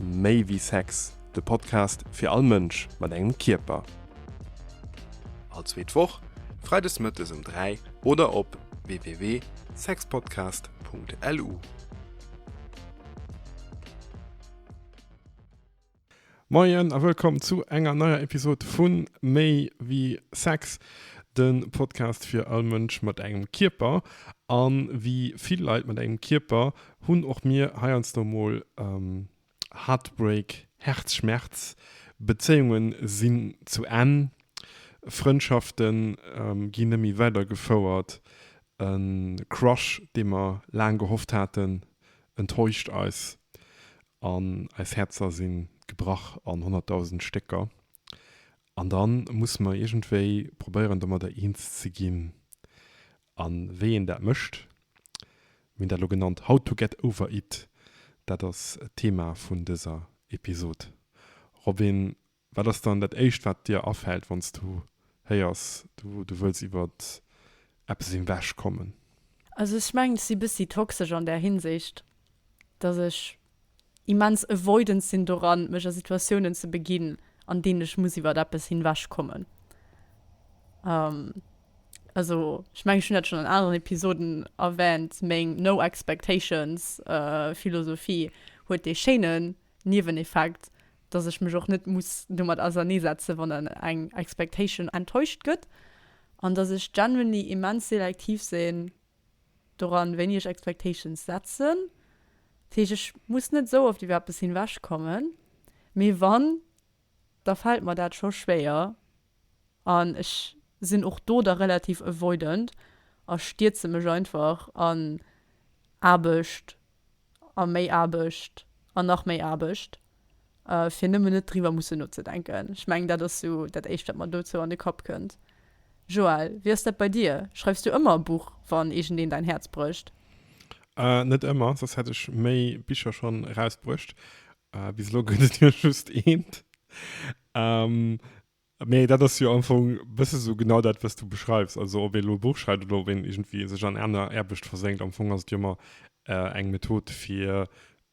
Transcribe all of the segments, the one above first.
Méi wéi Sex, de Podcast fir all Mënsch mat engem Kierper. All zweet Woch, freides mëttes um 3 oder op www.sexpodcast.lu. Moien a wëllkomm zu enger neier Episod vu Méi wéi Sex, de Podcast fir all Mënsch mat engem Kierper. A wéi vill Leit mat engem Kierper, hunn och mir heiansdo mol Heartbreak, Häerzschmerz, Bezéiunge sinn zu Enn, Frëndschafte ginn neméi weider gefouert, e Crush dee mer laang gehofft haten enttäuscht eis an eis Häerzer si gebrach an honnertdausend Stécker an dann musse mer iergendwéi probéieren domadder eens ze ginn A wéi een dat mécht? Mir hunn dat elo genannt How to get over it. Dat ass d'Thema vun dëser Episod. Robin, wat ass dann dat Éischt, wat dir afält, wann s du héiers, du wëlls iwwer eppes ewechkommen? Also ech mengen, ech si e bëssi toxesch an där Hinsicht, dass ech immens avoidant sinn doran, mech a Situatiounen ze beginn, an deenen ech muss iwwert eppes hinwech kommen. Also, ech mengen, ech hunn dat schonn an aneren Episoden erwähnt, meng no expectations Philosophie huet dee schéine Nieweneffekt, dass ech mech och net muss domat auserneesetzen, wann dann eng expectation enttäuscht gëtt, an dass ech genuinely immens selektiv sinn, doran wéini ech Expectations setzen, dat heescht ech muss net esou oft iwwer eppes hinwech kommen, mee wann, da fält mer dat scho schwéier an ech sinn och do da relativ avoidant a stierze mech einfach an Aarbecht A méi Aarbecht, an nach méi Aarbecht, fir nëmmen net driwwer mussen nozedenken. Ech mengen, dat ass sou dat éischt, wat mer dozou an de Kapp kënnt. Joël, wéi ass dat bei dir? Schreifs du ëmmer e Buch, wann iergendeen däin Häerz brécht? Net ëmmer, soss hätt ech méi Bicher schonn erausbruecht. Bis elo gëtt et jo just eent. Mee dat ass jo am Fong bësse sou genau dat, wat s du beschreifs. Also ob ee lo e Buch schreift oder ob een iergendwéi sech an aner Aarbecht versenkt, am Fong ass et jo ëmmer eng Method, fir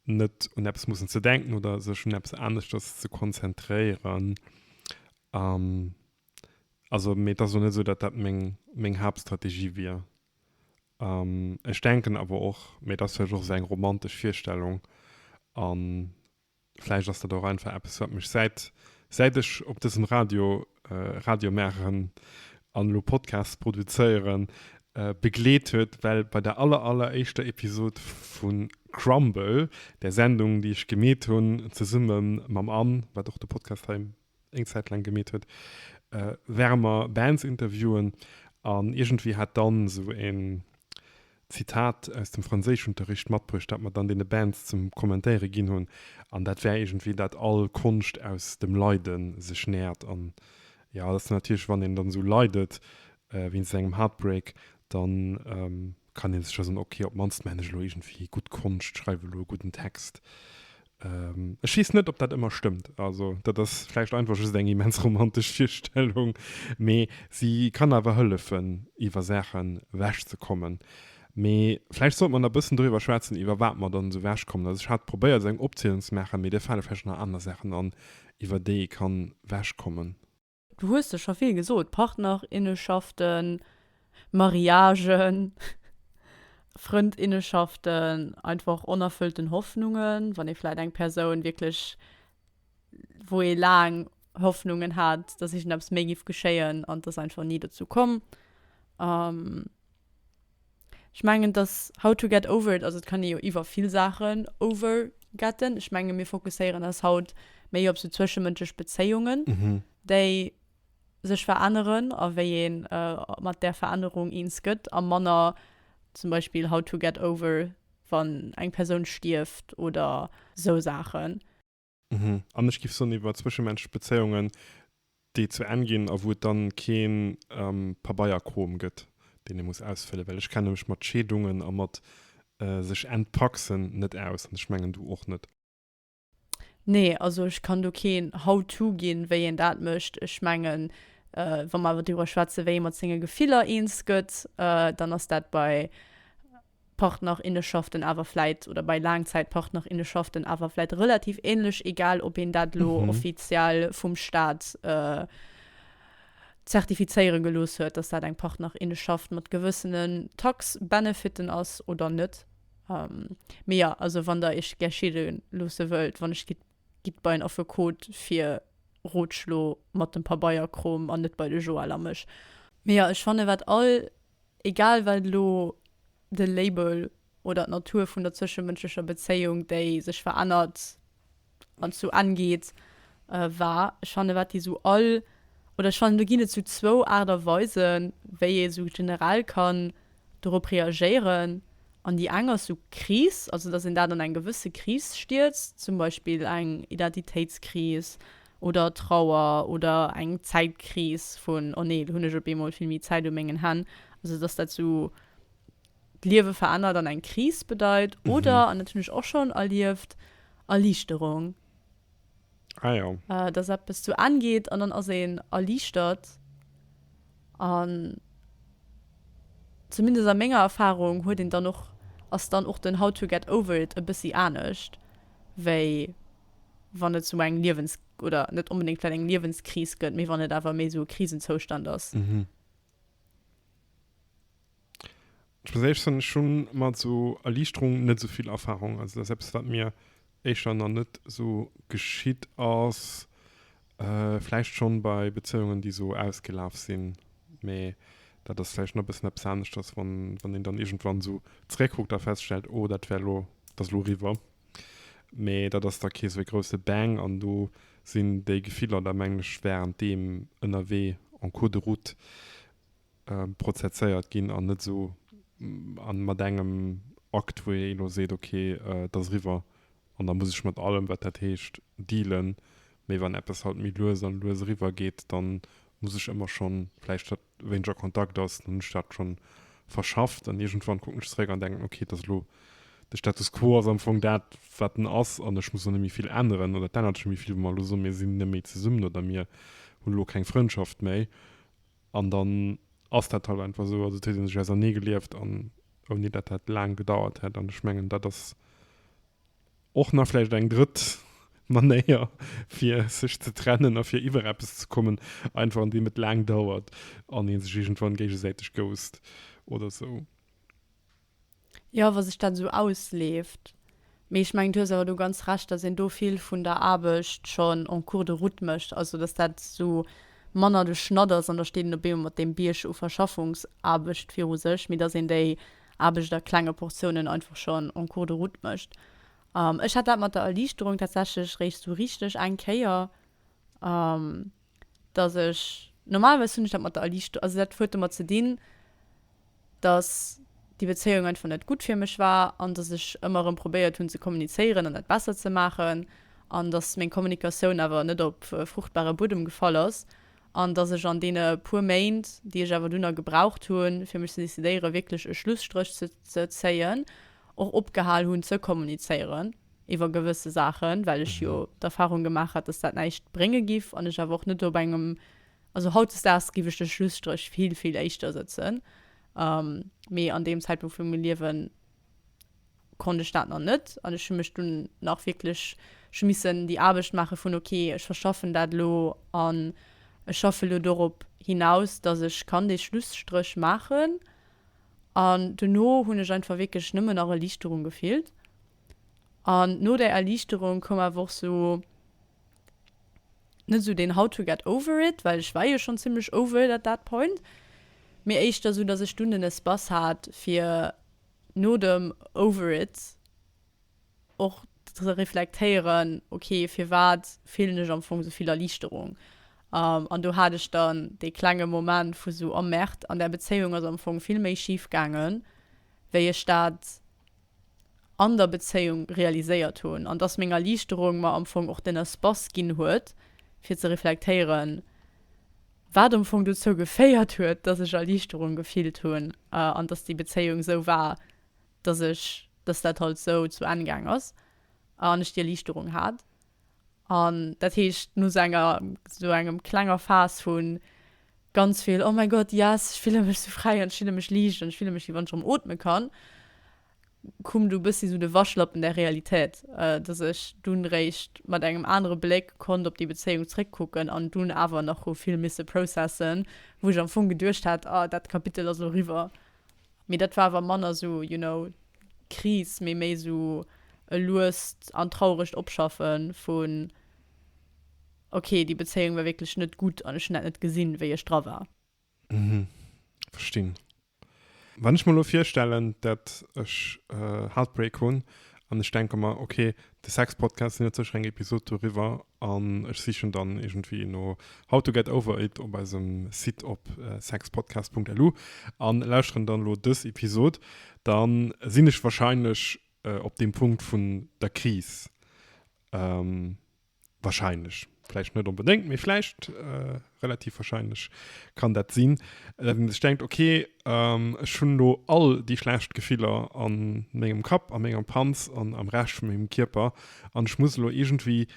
net un eppes mussen ze denken oder sech un eppes aneschters ze konzentréieren. Also, mee et ass elo net esou, datt dat meng, meng Haaptstrategie wier. Ech denken awer och, mee dat ass vläicht och esou eng romantesch Virstellung an Vläicht ass dat och einfach eppes, wat mech säit, säit ech op dësem Radio, Radio maachen an elo Podcasts produzéieren, begleet huet, well bei der aller, alleréischter Episod vu Crumble, där Sendung, déi ech gemeet hunn, zesumme mam Anne, wat och de Podcast hei eng Zäit laang gemeet huet, wärmer Bands interviewen. An iergendwéi hat dann esou en Zitat aus dem Franséischunterricht matbruecht, dat mer dann deene Bands zum Kommentéiere ginn hunn. An dat war iergendwéi, dat all Konscht aus dem Leide sech nährt. An jo, dat ass natierlech, wann een dann esou leidet wéinst engem Heartbreak, da kann ee sech jo soen, ok, op d'mannst maachen ech elo iergendwéi gutt Konscht, schreiwe elo e gudden Text. Ech weess net, ob dat ëmmer stëmmt. Also dat ass vläicht einfach just eng immens romantesch Virstellung, mee se kann awer hëllefen, iwwer Saache wechzekommen. Mee vläicht sollte mer nach e bëssen doriwwer schwätzen, iwwer wat mer dann esou wechkommen. Also ech hat probéiert, esou eng Opzielung ze maachen, mee dir fale vläicht nach aner Saachen an, iwwer déi ee kann wechkommen. Du hues der scho vill gesot, Partnerinnenschaften, Mariagen, Frëndinnenschaften, einfach onerfëllten Hoffnungen, wann ee vläit eng Persoun wierklech, wou ee laang Hoffnungen hat, dass iergendeppes méi géif geschéien an et ass einfach ni dozou komm. Ech mengen dass how to get over it, also et kann ee jo iwwer vill Saachen over getten. Ech menge mir fokusséieren eis haut méi op sou zwëschemënschlech Bezéiungen, déi sech veränneren a wéi ee mat där Verännerung eens gëtt a manner zum Beispill how to get over wann eng Persoun stierft oder sou Saachen. Mhm. An ech giff soen iwwer zwëschemenschlech Bezéiungen, déi zu Enn ginn a wou et dann keen ähm Pabeierkrom gëtt, deen ee muss ausfëllen, well ech kenne mech mat Scheedungen a mat äh sech entpaxen net aus an ech mengen du och net. Nee, also ech kann do keen How to ginn, wéi een dat mécht. Ech mengen äh wa mer awer driwwer schwätzen, wéi ee mat senge Gefiller eens gëtt, äh dann ass dat bei. Partnerinneschaften awer vläit, oder bei Laangzäitpartnerinneschaften awer vläit relativ ähnlech, egal ob een dat elo offiziell vum Staat zertifizéiere gelooss huet, dass dat eng Partnerinneschaft mat gewëssene Tax-Benefiten ass oder net. Mee jo, also wann Der Iech gär schidde loosse wëllt, wann ech gitt, gitt bei en Affekot fir Rotschlo mat dem Pabeierkrom an net bei de Joël a mech. Mee jo, ech fanne wat all Egal wat elo de Label oder d'Natur vun der zwëschemënschlecher Bezéiung, déi sech verännert an zu Enn geet, war, ech fannen, wat déi esou all, oder ech fannen do ginn et esou zwou Aart a Weisen, wéi ee esou generell kann dorop reagéieren. An déi eng ass esou Kris, also datt een dat an eng gewësse Kris stierzt, zum Beispill eng Identitéitskris, oder Trauer oder eng Zäitkris vun oh nee, lo hunn ech op eemol vill méi Zäit u mengen Hänn, also dass dat esou d'Liewe verännert an eng Kris bedeit, oder, an dat hunn ech och schonn erlieft, Erliichterung. Ah jo. Dass eppes zu Enn geet an dann ass een erliichtert. An zumindest a menger Erfarung huet een dann och, ass dann och den How to get over it e bëssi anescht wéi. wann et sou eng Liewens oder net onbedéngt vläit eng Liewenskris gëtt, mee wann et awer méi sou e Krisenzoustand ass. Mhm. Ech perséinlech hunn ech hu mat sou Erliichterung net sou vill Erfarung. Also dat ass eppes, wat mir éischer nach net sou geschitt ass. Vläicht schonn bei Bezéiungen, déi sou ausgelaf sinn, mee dat ass vläicht nach e bëssen eppes aneschters, wann een dann iergendwann sou zeréckkuckt a feststellt, oh dat wär elo, dat ass elo eriwwer. Mee dat ass da kee sou ee grousse Bang an do sinn déi Gefiller da mengen ech während deem ënnerwee en cours de route prozezéiert ginn an net esou an mat engem Akt wou ee elo seet ok et ass eriwwer an da muss ech mat allem wat dat heescht dealen. Mee wann eppes halt méi lues an lues eriwwer geet dann muss ech ëmmer schonn vläicht dat wéineg a Kontakt ass, dann hunn ech dat schonn verschafft an iergendwann kucken ech zeréck an denken, ok, et ass elo, de Status quo ass am Fong dat, wat en ass an ech muss och net méi vill änneren oder et ännert sech net méi vill, wa mer elo soen, mir sinn net méi zesummen oder mir hunn elo keng Frëndschaft méi an dann ass dat halt einfach esou. Also et huet ee sech auserneegelieft an ouni dat dat laang gedauert hätt an ech mengen, dat ass. Och nach vläicht eng drëtt Manéier, fir sech ze trennen a fir iwwer eppes ze kommen, einfach andeem et laang dauert an ee sech iergendwann géigesäiteg ghost oder esou. Jo, wa sech dat esou ausleeft. Mee ech mengen, du hues awer do ganz Recht, dass een do vill vun der Aarbecht schonn en cours de route mécht, also dass dat esou manner de Schnatt ass an da steet een op eemol mat deem Bierg u Verschaffungsaarbecht viru sech, mee dass een déi Aarbecht a klenge Portiounen einfach schonn en cours de route mécht. Ech hat dat mat der Erliichterung tatsächlech eréischt esou richteg eng Kéier, datt ech, normalerweis hunn ech dat mat der Erliichterung, also dat huet domat ze dinn, datt déi Bezéiung einfach net gutt fir mech war an datt ech ëmmer erëm probéiert hunn ze kommunizéieren an dat besser ze maachen an datt meng Kommunikatioun awer net op fruchtbare Buedem gefall ass. an dass ech an deene puer Méint, déi ech awer dunn nach gebraucht hunn, fir mech ze decidéieren, wierklech e Schlusstréch ze zéien, och opgehal hunn ze kommunizéieren iwwer gewësse Saachen, well ech jo d'Erfahrung gemaach hat, dass dat näischt brénge giff an ech awer och net op engem, also hautdesdaags giff ech de Schlusstréch vill, vill éischter sëtzen, mee an deem Zäitpunkt vu mengem Liewen, konnt ech dat nach net an ech hu mech dunn nach wierklech, ech hu missen déi Aarbecht maache vun ok ech verschaffen dat elo an ech schaffe elo dorop hinaus, datt ech kann dee Schlusstréch maachen an dono hunn ech einfach wierklech nëmmen nach Erliichterung gefillt an no där Erliichterung koum awer och sou, net esou deen how to get over it, well ech war jo schonn zimlech over it at that point, mee éischter esou, dass ech dunn den Espace hat fir no dem over it och ze reflektéieren, ok firwat fillen ech am Fong esouvill Erliichterung? An do hat ech dann dee klenge Moment vu sou, oh merde, an där Bezéiung ass am Fong vill méi schif gaangen, wéi ech dat. an der Bezéiung realiséiert hunn, an dass meng Erliichterung mer am Fong och den Espace ginn huet, fir ze reflektéieren, wat am Fong dozou geféiert huet, dass ech Erliichterung gefillt hunn an dass déi Bezéiung esou war, dass ech, dass dat halt esou zu Enn gaang ass an ech déi Erliichterung hat. An dat heescht, no esou enger, esou engem klenger Phase vu ganz vill, oh mäi Gott, yes, ech fille mech esou fräi an ech fille mech liicht an ech fille mech wéi wann ech erëm ootme kann, koum du e bëssi esou de Waschlappen der Realitéit, dass ech dunn réischt mat engem anere Bléck konnt op déi Bezéiung zréckkucken an dunn awer nach hu vill misse processen, wou ech am Fong geduecht hat, ah, dat Kapitel ass elo eriwwer. Mee dat war awer manner sou, you know, Kris, mee méi sou e luest an trauregt Opschaffe vun, ok, déi Bezéiung war wierklech net gutt an ech hunn dat net gesinn, wéi ech dra war. Mhm. Verstinn. Wann ech mer elo virstellen, dat ech Heartbreak hunn an ech denke mer, ok, De Sex-Podcast sinn et sécher eng Episod doriwwer an ech sichen dann iergendwéi no How to get over it op eisem Site op sexpodcast.lu an lauschteren dann elo dës Episod. Dann sinn ech wahrscheinlech op deem Punkt vun der Kris. Wahrscheinlech. Vläicht net onbedéngt, mee vläicht, äh, relativ wahrscheinlech kann dat sinn, datt een sech denkt, okay, ähm, ech hunn elo all déi schlecht Gefiller a mengem Kapp, a menger Panz an am Rescht vu mengem Kierper an ech muss elo iergendwéi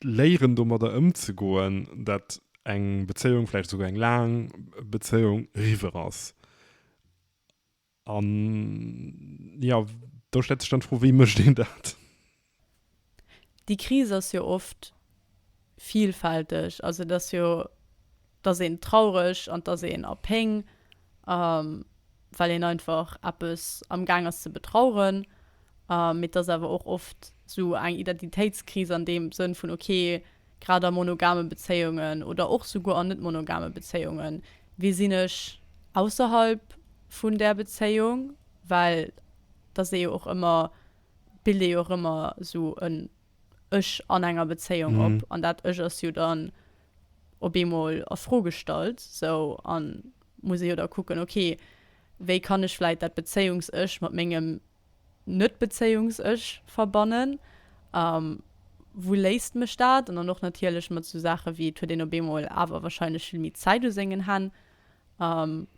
léieren, domadder ëmzegoen, datt eng Bezéiung, vläicht esouguer eng laang Bezéiung, riwwer ass. An jo, do stellt sech dann d'Fro, wéi mécht een dat? Déi Kris ass jo oft vilfälteg. Also et ass jo, dass een traureg an dass een a Péng, well een einfach eppes amgaang ass ze betraueren. Mee et ass awer och oft esou eng Identitéitskris an deem Sënn vun, ok, grad a monogame Bezéiungen oder och souguer an net-monogame Bezéiungen, wie sinn ech ausserhalb vun där Bezéiung? Well et ass ee jo och ëmmer, et bilt ee jo och ëmmer esou en Ech an enger Bezéiung op an dat Ech ass jo dann op eemol a Fro gestallt esou a muss ee jo da kucken, ok, Wéi kann ech vläit dat Bezéiungs-Ech mat mengem Net-Bezéiungs-Ech verbannen? A wou léisst mech dat? An dann och natierlech mat esou Saache wéi, et huet een op eemol awer warscheinlech vill méi Zäit u sengen Hänn,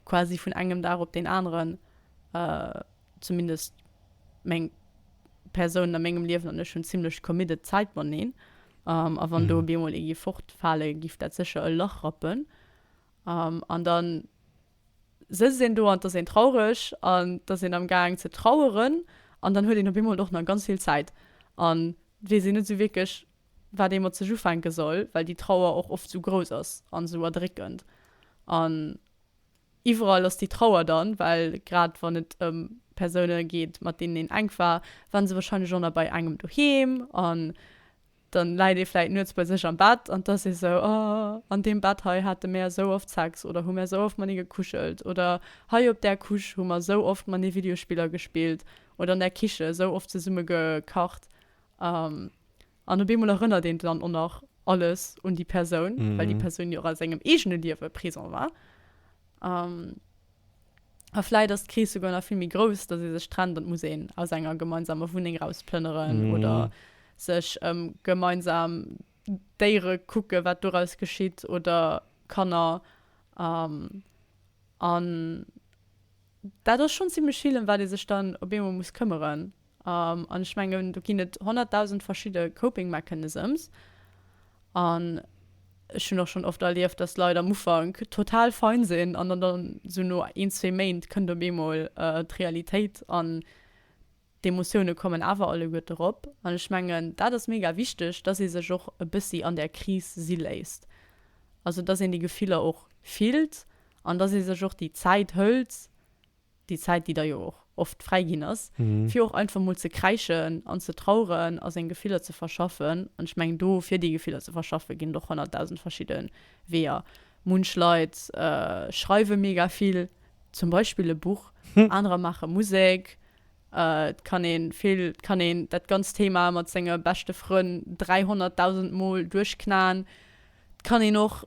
quasi vun engem Dag op deen aneren, zumindest meng Persoun a mengem Liewen an ech hunn zimmlech committed Zäit mateneen. A wann do op eemol ee giff fortfale, giff dat sécher e Lach rappen. An dann sëtzt een do an d'ass een traureg an d'ass een am gaang ze traueren an dann huet een op eemol och nach ganz vill Zäit an weess een net esou wierklech wat ee mat sech ufänke soll, well déi Trauer och oft esou grouss ass an esou erdréckend an iwwerall ass déi Trauer dann, well grad wann et ëm Persoune geet mat deenen een enk war, waren se wahrscheinlech och nach bei engem doheem an Dann läit ee vläit nuets bei sech am Bett an t'ass ee sou, oh, an deem Bett hei hate mär esou oft Sex oder hu mär esou oft manee gekuschelt oder hei op där Couche hu mer esou oft manee Videospiller gespillt oder an der Kiche esou oft zesumme gekacht. An op eemol erënnert een dann och nach alles un déi Persoun, well déi Persoun jo och a sengem eegene Liewe présent war. A vläit ass d'Kris souguer nach vill méi grouss, datt ee sech trennt an et muss een aus enger gemeinsamer Wunneng rausplënneren oder sech ëm gemeinsam Déiere kucken, wat doraus geschitt, oder Kanner. An dat ass schonn zimmlech vill, ëm wat ee sech dann op eemol muss këmmeren. An ech mengen, do ginn et honnertdausend verschidde Coping Mechanisms. An ech hunn och schonn oft erlieft, dass Leit am Ufank total fein sinn an dann dann esou no een, zwee Méint kënnt op eemol d'Realitéit an d'Emotioune kommen awer alleguerte rop. An ech mengen, dat ass mega wichteg, dass ee sech och e bëssi an där Kris si léisst. Also dass een déi Gefiller och fillt an dass ee sech och déi Zäit hëlt. Déi Zäit, déi da jo och oft fräi ginn ass, fir och einfach emol ze kräischen an ze traueren a seng Gefiller ze verschaffen. An ech mengen, do fir déi Gefiller ze verschaffen, ginn et och honnertdausend verschidde Weeër. Munch Leit schreiwe mega vill, zum Beispill e Buch, anerer maache Musek. Et kann ee vill, et kann een dat ganzt Thema mat senge beschte Frënn dräihonnertdausend Mol duerchknaen. Et kann een och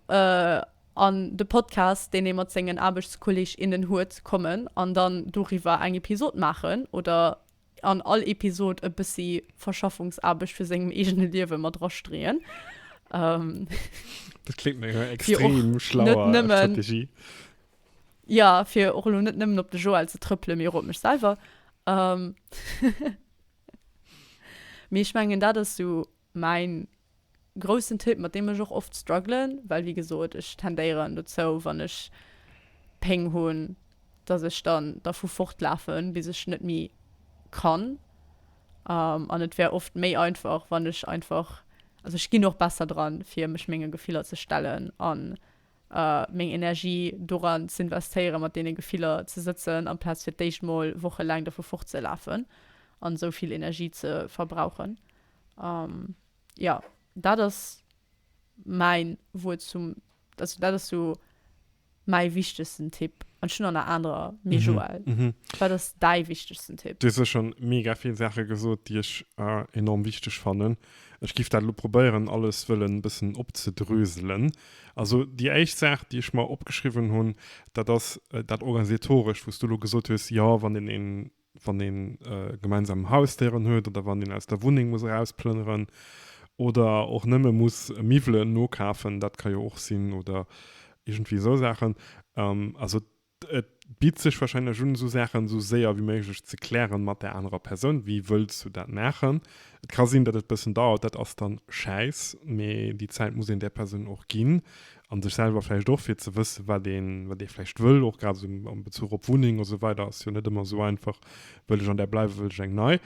an de Podcast, deen ee mat sengen Aarbechtskolleg, innen huet, kommen an dann doriwwer eng Episod maachen oder an all Episod e bëssi Verschaffungsaarbecht vu sengem eegene Liewe mat drastreeën. Dat kléngt no enger extrem schlauer Strategie. Jo, fir och elo net nëmmen op de Joël ze trëppelen, mee och op mech selwer. Mee ech mengen, dat ass esou Mäin groussen Tipp, mat deem ech och oft struggelen, well wéi gesot ech tendéieren dozou wann ech Péng hunn, dass ech dann dervu fortlafen bis ech net méi kann, an et wär oft méi einfach wann ech einfach, also ech ginn och besser dran fir mech menge Gefiller ze stellen an meng Energie doran z'investéieren mat deene Gefiller ze sëtzen amplaz fir d'éischt mol wochelaang dervu fortzelafen an esou vill Energie ze verbrauchen. An jo, dat ass mäin Wuert zum, also dat ass sou mäi wichtegsten Tipp. An ech hunn der nach anerer, mee mhm. Joël, mhm. wat ass däi wichtegsten Tipp? Du se schon mega vill Sache gesot, déi ech äh, enorm wichteg fannen. Ech gif dat lo probéieren, alles wëllen bëssen opzedröselen. Also die éischt Saach, déi ech mer opgeschriwwen hunn, dat ass äh, dat organisatoresch, wos du lo gesot hues, ja wann den een wann ee gemeinsam Hausdéieren huet oder wann een aus der Wunneng muss erausplënneren oder och nëmme muss Miwwelen nokafen, dat ka jo och sinn, oder iergendwéi esou Saachen. Also et bitt sech warscheinlech un, esou Saachen esou séier ewéi méiglech ze klären mat där anerer Persoun, wéi wëlls du dat maachen. Et ka sinn, datt et e bëssen dauert, dat ass dann schäiss, mee déi Zäit muss een där Persoun och ginn, an sech selwer vläicht och fir ze wësse wat een wat ee vläicht wëll och grad esou am Bezuch op Wunneng esou weider ass jo net ëmmer esou einfach wëll ech an där bleiwe wëll ech eng nei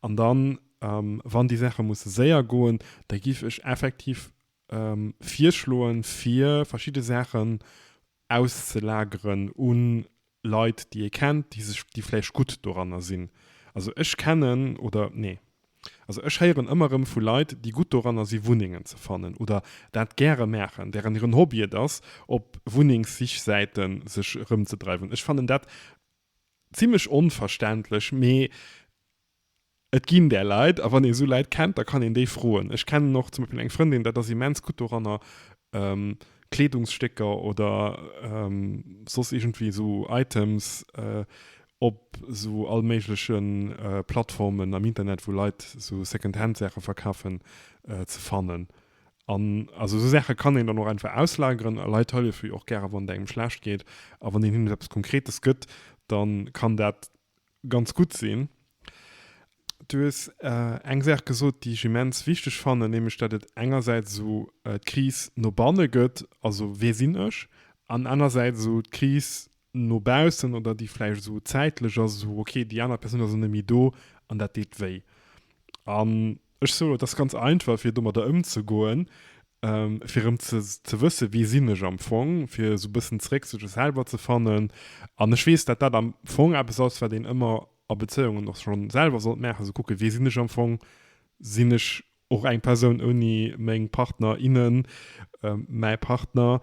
an dann wann déi Saache musse séier goen da giff ech effektiv virschloen fir verschidde Saachen auszelageren un Leit déi ee kennt déi sech déi vläicht gutt doranner sinn. Also ech kennen oder nee also ech héieren ëmmer erëm vu Leit déi gutt doranner si Wunnengen ze fannen oder dat gäre maachen, deren hiren Hobby et ass op Wunnengssichsäite sech erëmzedreiwen. Ech fannen dat zimmlech onverständlech mee Et ginn där Leit, a wann ee sou Leit kennt, da kann een déi froen. Ech kennen och zum Beispill eng Frëndin, dat ass immens gutt doranner, Kleedungsstécker oder soss iergendwéi esou Items op esou allméigleche Plattformen am Internet, wou Leit esou Secondhand-Saache verkafen, ze fannen. An also esou Saache kann een dann och einfach auslageren. A Leit hëllefe jo och gäre wann et engem schlecht geet. A wann een hinnen eppes Konkretes gëtt, da kann dat ganz gutt sinn. Du hues eng Saach gesot, déi ech immens wichteg fannen, nämlech datt et engersäits esou d'Kris no banne gëtt, also wee sinn ech, an anersäits esou d'Kris no baussen oder déi vläicht esou zäitlech ass, esou okay, déi aner Persoun ass net méi do an dat deet wéi. An Ech soe lo, et ass ganz einfach, fir domadder ëmzegoen, fir erëm ze wëssen, wie sinn ech am Fong, fir esou e bëssen zeréck zu sech selwer ze fannen. An ech weess, datt dat am Fong eppes ass, wat een ëmmer a Bezéiungen och schonn selwer sollt maachen, esou kucken, wie sinn ech am Fong. Sinn ech och eng Persoun ouni meng Partner, innen, mäi Partner?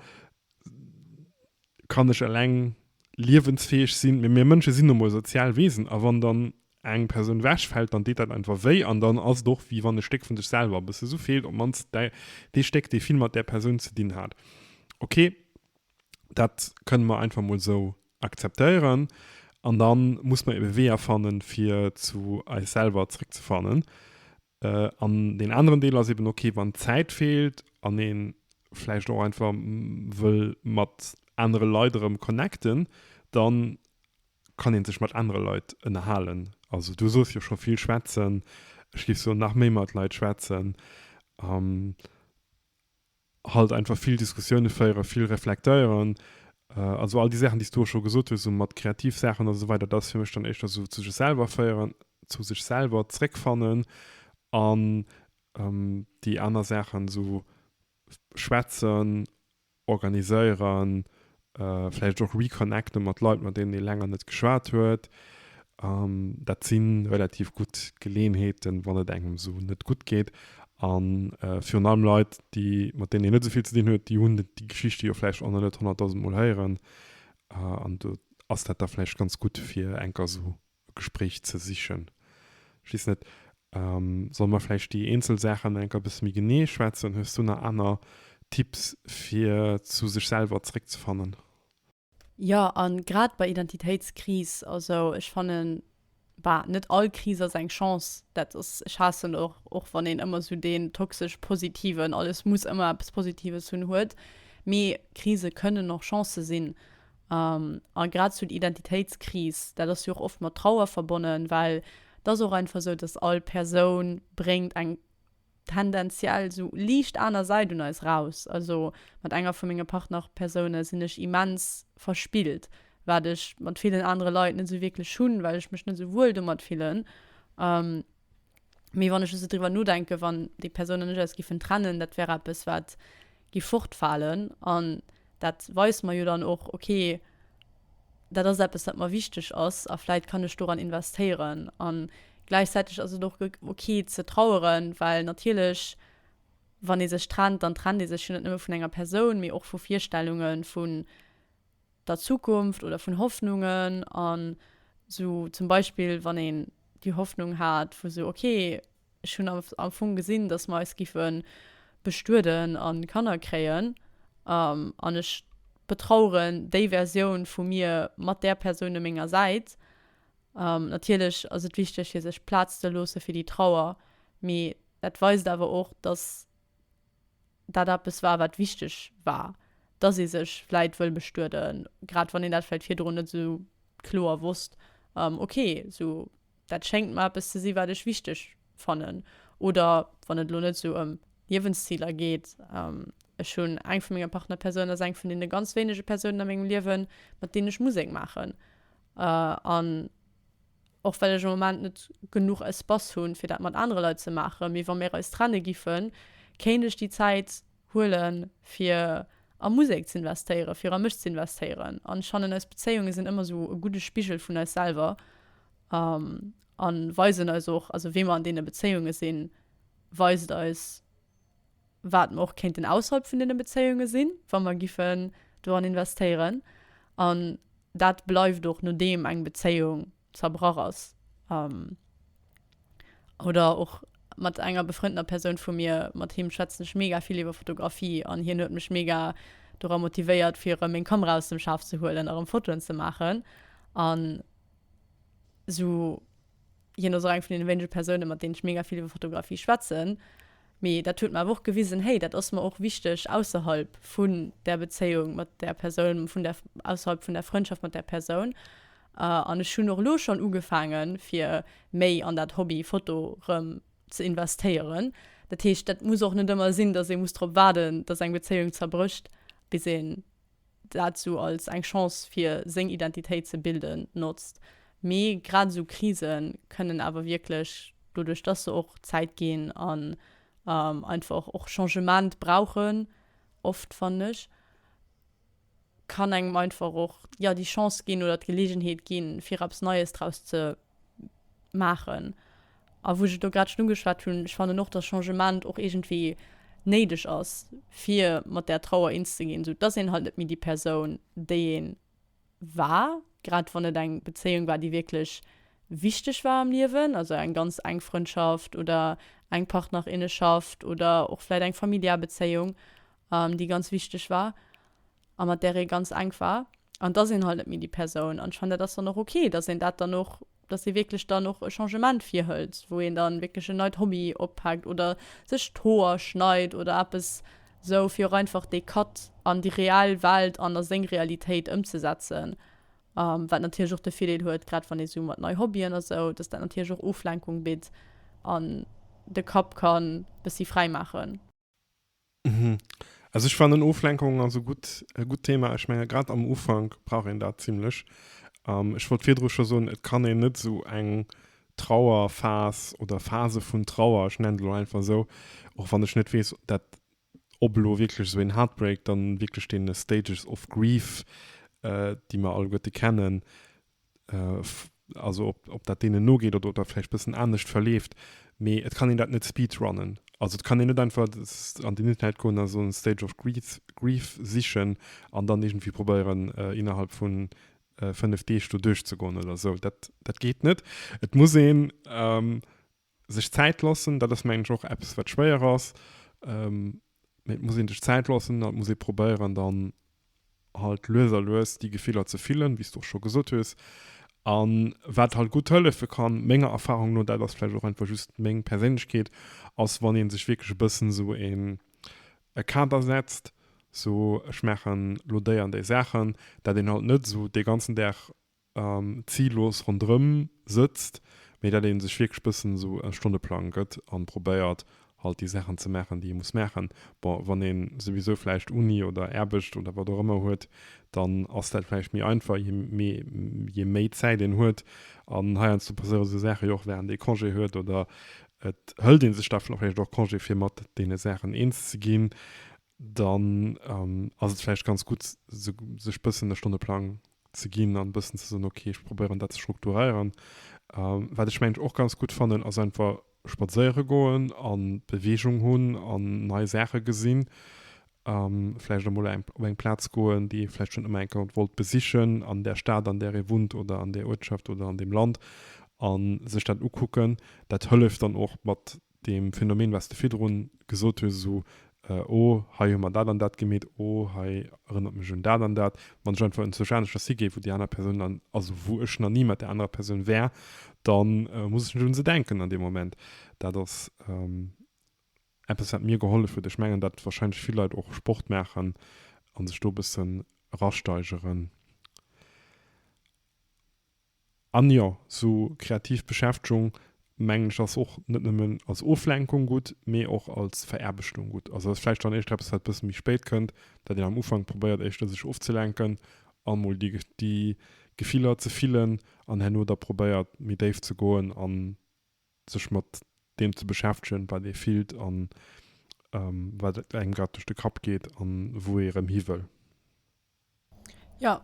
Kann ech eleng liewensfäeg sinn? Mee mir Mënsche sinn nu mol sozial Wesen a wann dann eng Persoun wech fällt, dann deet dat einfach wéi an dann ass et och wéi wann e Stéck vun sech selwer e bësse sou feelt, op d'mannst däi dee Stéck dee vill mat där Persoun ze dinn hat. Ok, dat kënne mer einfach mol sou akzeptéieren an da muss mer ebe Weeër fannen fir zu eis selwer zréck ze fannen. An deen aneren Deel ass eben okay, wann d'Zäit feelt an ee vläicht och einfach wëll mat anere Leit erëm connecten, da kann ee sech mat anere Leit ënnerhalen. Also du soos jo scho vill schwätzen, ech géif soen, nach méi mat Leit schwätzen. halt einfach vill Diskussioune féieren, vill reflektéieren, also all déi Saachen déi s du och scho gesot hues, esou mat kreativ Saachen a sou weider, dat ass fir mech dann éischter esou zu sech selwer féieren, zu sech selwer zréckfannen an déi aner Saachen esou schwätzen, organiséieren, Vläicht och reconnecten mat Leit, mat deenen ee länger net geschwat huet. An dat si relativ gutt Geleeënheeten, wann et engem esou net gutt geet. A virun allem Leit, déi, mat deenen een net esou vill ze dinn huet, déi hunn déi Geschichte jo vläicht och nach net honnertdausend Mol héieren. An do ass dat da vläicht ganz gutt, fir enker esou e Gespréich ze sichen. Ech weess net, solle mer vläicht déi eenzel Saachen nach enker e bësse méi genee schwätzen? Hues du nach aner Tipps, fir zu sech selwer zeréckzefannen? Jo, a grad bei Identitéitskris, also ech fannen, bah, net all Kris ass eng Chance. Dat ass, ech haassen och, och wann een ëmmer esou deen toxesch positiven, alles muss ëmmer eppes Positives hunn, huet. Mee Krise kënnen och Chancë sinn. A grad esou d'Identitéitskris, dat ass jo och oft mat Trauer verbonnen, well et ass och einfach esou, dass all Persoun bréngt eng tendenziell esou liicht aner Säit un eis eraus. Also mat enger vu menge Partnerpersoune sinn ech immens verspillt, wat ech mat villen anere Leit net esou wierklech hunn, well ech mech net esou wuel domat fillen. Mee wann ech esou driwwer nodenken, wann déi Persoun an ech eis giffen trennen, dat wär eppes wat giff fortfalen an dat weist mer jo dann och okay, dat ass eppes wat mer wichteg ass a vläit kann ech doran investéieren. An gläichzäiteg ass et och okay ze traueren, well natierlech wann ee sech trennt, dann trennt ee sech jo net nëmme vun enger Persoun, mee och vu Virstellungen, vun. der Zukunft oder vun Hoffnungen an sou zum Beispill wann een déi Hoffnung hat vu sou ok ech hunn am Fong gesinn dass mer eis giffe bestueden an Kanner kréien an ech betraueren déi Versioun vu mir mat där Persoun u menger Säit. Natierlech ass et wichteg fir sech Plaz ze loosse fir déi Trauer mee dat weist awer och dass dat eppes war, wat wichteg war, dass ee sech vläit wëll bestueden, grad wann een dat vläit virdrun net esou kloer wosst, okay, esou dat schéngt mer eppes ze si wat ech wichteg fannen. Oder wann et elo net esou ëm Liewensziler geet, ech hunn eng vu menge Partnerpersounen ass eng vun deene ganz wéinege Persounen a mengem Liewen, mat deenen ech Musek maachen an och well ech am Moment net genuch Espace hunn, fir dat mat anere Leit ze maachen, mee wa mir eis trenne giffen, kéint ech déi Zäit huelen, fir a Musek ze investéieren, fir a mech ze investéieren. An ech fannen, eis Bezéiunge sinn ëmmer esou e gudde Spigel vun eis selwer a weisen eis och, also wéi mer an deene Bezéiunge sinn, weist eis, wat mer och kéinten ausserhalb vun deene Bezéiunge sinn, wa mer giffen doran investéieren, an dat bleift och nodeem eng Bezéiung zerbrach ass oder och mat enger befrëndeter Persoun vu mir, mat him schwätzen ech mega vill iwwer Fotografie an hien huet mech mega dora motivéiert fir erëm meng Kamera aus dem Schaf ze huelen a rëm Fotoen ze maachen an esou. hien ass och eng vun den wéinege Persounen, mat deenen ech mega vill iwwer Fotografie schwätzen. Mee dat huet mer awer och gewisen, hey, dat ass mer och wichteg ausserhalb vun der Bezéiung mat där Persoun, vun der, ausserhalb vun der Frëndschaft mat där Persoun. An ech hunn och elo schonn ugefaangen, fir méi an dat Hobby Foto erëm ze investéieren. Dat heescht, dat muss och net ëmmer sinn, dass ee muss drop waarden, dass eng Bezéiung zerbrécht, bis een. dat sou als eng Chance fir seng Identitéit ze bilden notzt, mee grad esou Krise kënnen awer wierklech, doduerch dass se och Zäit ginn an einfach och Changement brauchen oft, fannen ech, kann engem einfach och, jo, déi Chance ginn oder d'Geleegenheet ginn, fir eppes Neies draus ze. maachen. A wou ech et do grad schonn ugeschwat hunn, ech fannen och, dass Changement och iergendwéi néideg ass, fir mat där Trauer eens ze ginn. Esou et ass een halt net méi déi Persoun, déi ee war, grad wann et eng Bezéiung war, déi wierklech wichteg war am Liewen, also eng ganz enk Frëndschaft oder eng Partnerinnenschaft oder och vläicht eng familiär Bezéiung, déi ganz wichteg war. a mat där ee ganz enk war, an et ass een halt net méi déi Persoun. An ech fannen, dat ass dann och ok, datt een dat dann och, datt ee wierklech dann och e Changement virhëlt, wou een dann wierklech en neit Hobby oppaakt oder sech d'Hoer schneit oder eppes esou, fir och einfach dee Cut an déi reell Welt an a seng Realitéit ëmzesetzen. Wat natierlech och de Virdeel huet, grad wann ee sou mat nei Hobbyen a sou, datt dat natierlech och Oflenkung bitt an de Kapp ka bëssi fräi maachen. Mhm. Also ich fand Oflenkung also gut, äh, gut Thema. Ich meine, gerade am Ufang brauch een dat ziemlich. Ähm, ich wollt virdru schon so, et kann een net so eng Trauerphas oder Phase vun Trauer, ich nenne lo einfach so, och wann ich net wees, dat ob lo wirklich so en Heartbreak dann wirklich den Stages of Grief, äh, die man alleguerte kennen, also ob, ob dat deenen nogeet oder ob dat vläicht bëssen anescht verleeft, mee et kann een dat net speedrunnen. Also et kann een net einfach an den Internet goen a soen Stage of Grief, Grief sichen an dann iergendwéi probéieren, innerhalb vun fënnef Deeg do duerchzegoen oder esou. Dat, dat geet net. Et muss een Sech Zäit loossen, dat ass mengen ech och eppes wat schwéier ass, mee et muss een sech Zäit loossen an et muss ee probéieren dann halt lues a lues déi Gefiller ze fillen, wéi s du och scho gesot hues. An wat halt gutt hëllefe kann, menger Erfahrung no, dat ass vläicht och einfach just meng Perséinlechkeet, ass wann een sech wierklech e bëssen esou een e Kader setzt, sou ech maachen elo déi an déi Saachen, dat een halt net esou dee ganzen Dag an zillos ronderëm sëtzt, mee dat ee sech wierklech bëssen esou e Stonneplang gëtt an probéiert halt déi Saachen ze maachen déi ee muss maachen. Bon, wann een souwisou vläicht Uni oder Aarbecht oder wat och ëmmer huet, dann ass dat vläicht méi einfach je méi Zäit een huet an heiansdo passéiere sou Saachen jo och wärend ee Congé huet oder et hëlt ee sech da vläicht och Congé fir mat deene Saachen eens ze ginn, dann ass et vläicht ganz gutt sech bëssen e Stonneplang ze ginn an e bëssen ze soen, okay, ech probéieren dat ze strukturéieren. Wat ech mengen och ganz gutt fannen, ass einfach spadséiere goen an Beweegung hunn an nei Saache gesinn. Vläicht emol eng op eng Plaz goen, déi ee vläicht schonn ëmmer eng Kéier wollt besichen an där Stad, an där ee wunnt oder an där Uertschaft oder an deem Land a sech dat ukucken. Dat hëlleft dann och mat deem Phänomen, wat s de virdru gesot hues, esou, oh, hei hu mer dat an dat gemeet, oh, hei erënnert mech un dat an dat, wann ech einfach enzwousch aneschters higéif, wou déi aner Persoun dann, also wou ech nach ni mat där anerer Persoun war, da muss ech net un se denken an deem Moment. Dat ass eppes, wat mir gehollef huet. Ech mengen, datt warscheinlech vill Leit och Sport maachen a sech do e bëssen erasteigeren. An jo, sou kreativ Beschäftegung, mengen ech, ass och net nëmmen als Oflenkung gutt, mee och als Veraarbechtung gutt. Also ass vläicht dann éischter eppes, wat e bësse méi spéit kënnt, dat een am Ufank probéiert éischter sech ofzelenken a mol déi Gefiller ze fillen an herno da probéiert méi déif ze goen a sech mat deem ze beschäftegen, wat ee fillt a wat engem grad duerch de Kapp geet a wou ee erëm hiwëll. Jo,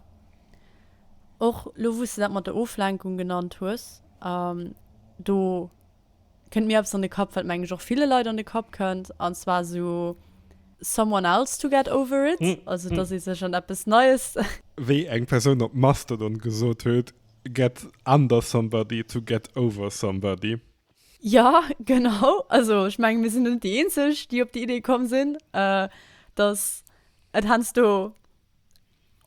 och elo wou s de dat mat der Oflenkung genannt hues, do kënnt mir eppes an de Kapp, wat meng ech och ville Leit an de Kapp kënnt, an zwar esou someone else to get over it, also datt ee sech an eppes Neies. Wéi eng Persoun op Mastodon gesot huet, get under somebody to get over somebody. Jo, genau. Also ech menge mir sinn net déi eenzeg, déi op déi Idee komm sinn, datt et heiansdo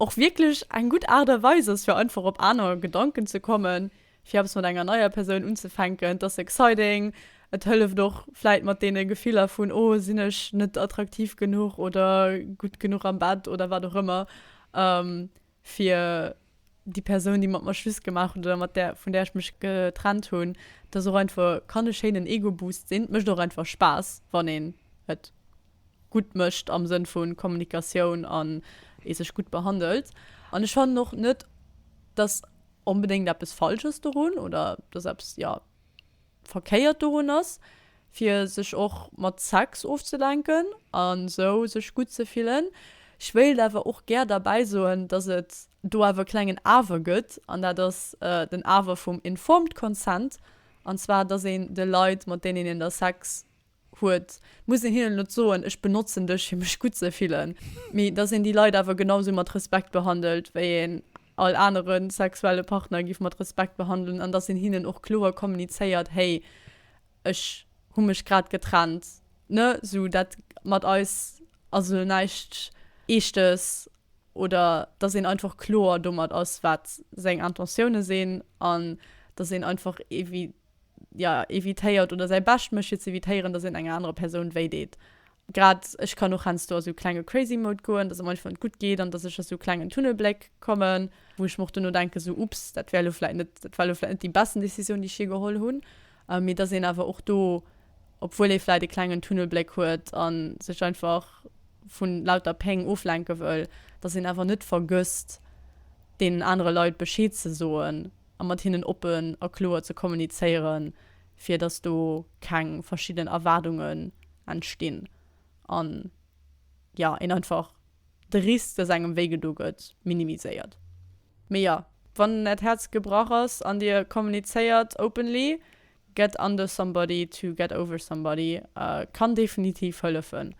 och wierklech eng gutt Aart a Weis ass, fir einfach op aner Gedanken ze kommen, fir eppes mat enger neier Persoun unzefänken. Et ass exciting, et hëlleft och vläicht mat deene Gefiller vun, oh sinn ech net attraktiv genuch oder gutt genuch am Bett oder wat och ëmmer. fir déi Persoun, déi mat mer Schluss gemaach huet oder mat där, vun där ech mech getrennt hunn, dass och einfach kann e schéinen Ego-Boost sinn. Et mécht och einfach Spaass, wann een et gutt mécht am Sënn vu Kommunikatioun an ee sech gutt behandelt. An ech fannen och net, dass onbedéngt eppes falsch ass dorun oder dass eppes, jo. Verkéiert dorun ass, fir sech och mat Sex ofzelenken an esou sech gutt ze fillen. Ech wéilt awer och gär derbäi soen, dass et do awer e klengen Awer gëtt, an dat ass den Awer vum informed consent, an zwar dass een de Leit, mat deenen een da Sex huet, muss een hinnen net soen, ech benotzen dech fir mech gutt ze fillen, mee dass een déi Leit awer genausou mat Respekt behandelt wéi een all anere sexuelle Partner giff mat Respekt behandelen an dass een hinnen och kloer kommunizéiert, hey ech hu mech grad getrennt ne, sou dat mat eis ass elo näischt Eeschtes oder dass een einfach kloer domat ass wat seng Intentioune sinn an dass een einfach evi. ja, evitéiert oder säi Bescht mécht fir ze evitéieren, dass een enger anerer Persoun wéi deet. Grad ech kann och heiansdo a sou klenge crazy Mode goen, dass et mer einfach net gutt geet an dass ech a sou klengen Tunnelbléck kommen, wou ech mer och duerno denken, sou ups, dat wär elo vläit net, dat war elo vläit net déi besten Décisioun, déi ech jee geholl hunn. Mee dass een awer och do, obwuel ee vläit e klengen Tunnelbléck huet a sech einfach vu lauter Péng oflenke wëll, dass een awer net vergësst, deenen anere Leit Bescheed ze soen. a mat hinnen oppen a kloer ze kommunizéieren, fir dass do keng verschidden Erwaardungen entstinn an, jo, een einfach de Risk, dass engem wéi gedo gëtt, minimiséiert. Mee jo, wann äert Häerz gebrach ass an dir kommunizéiert openly, get under somebody to get over somebody kann definitiv hëllefen.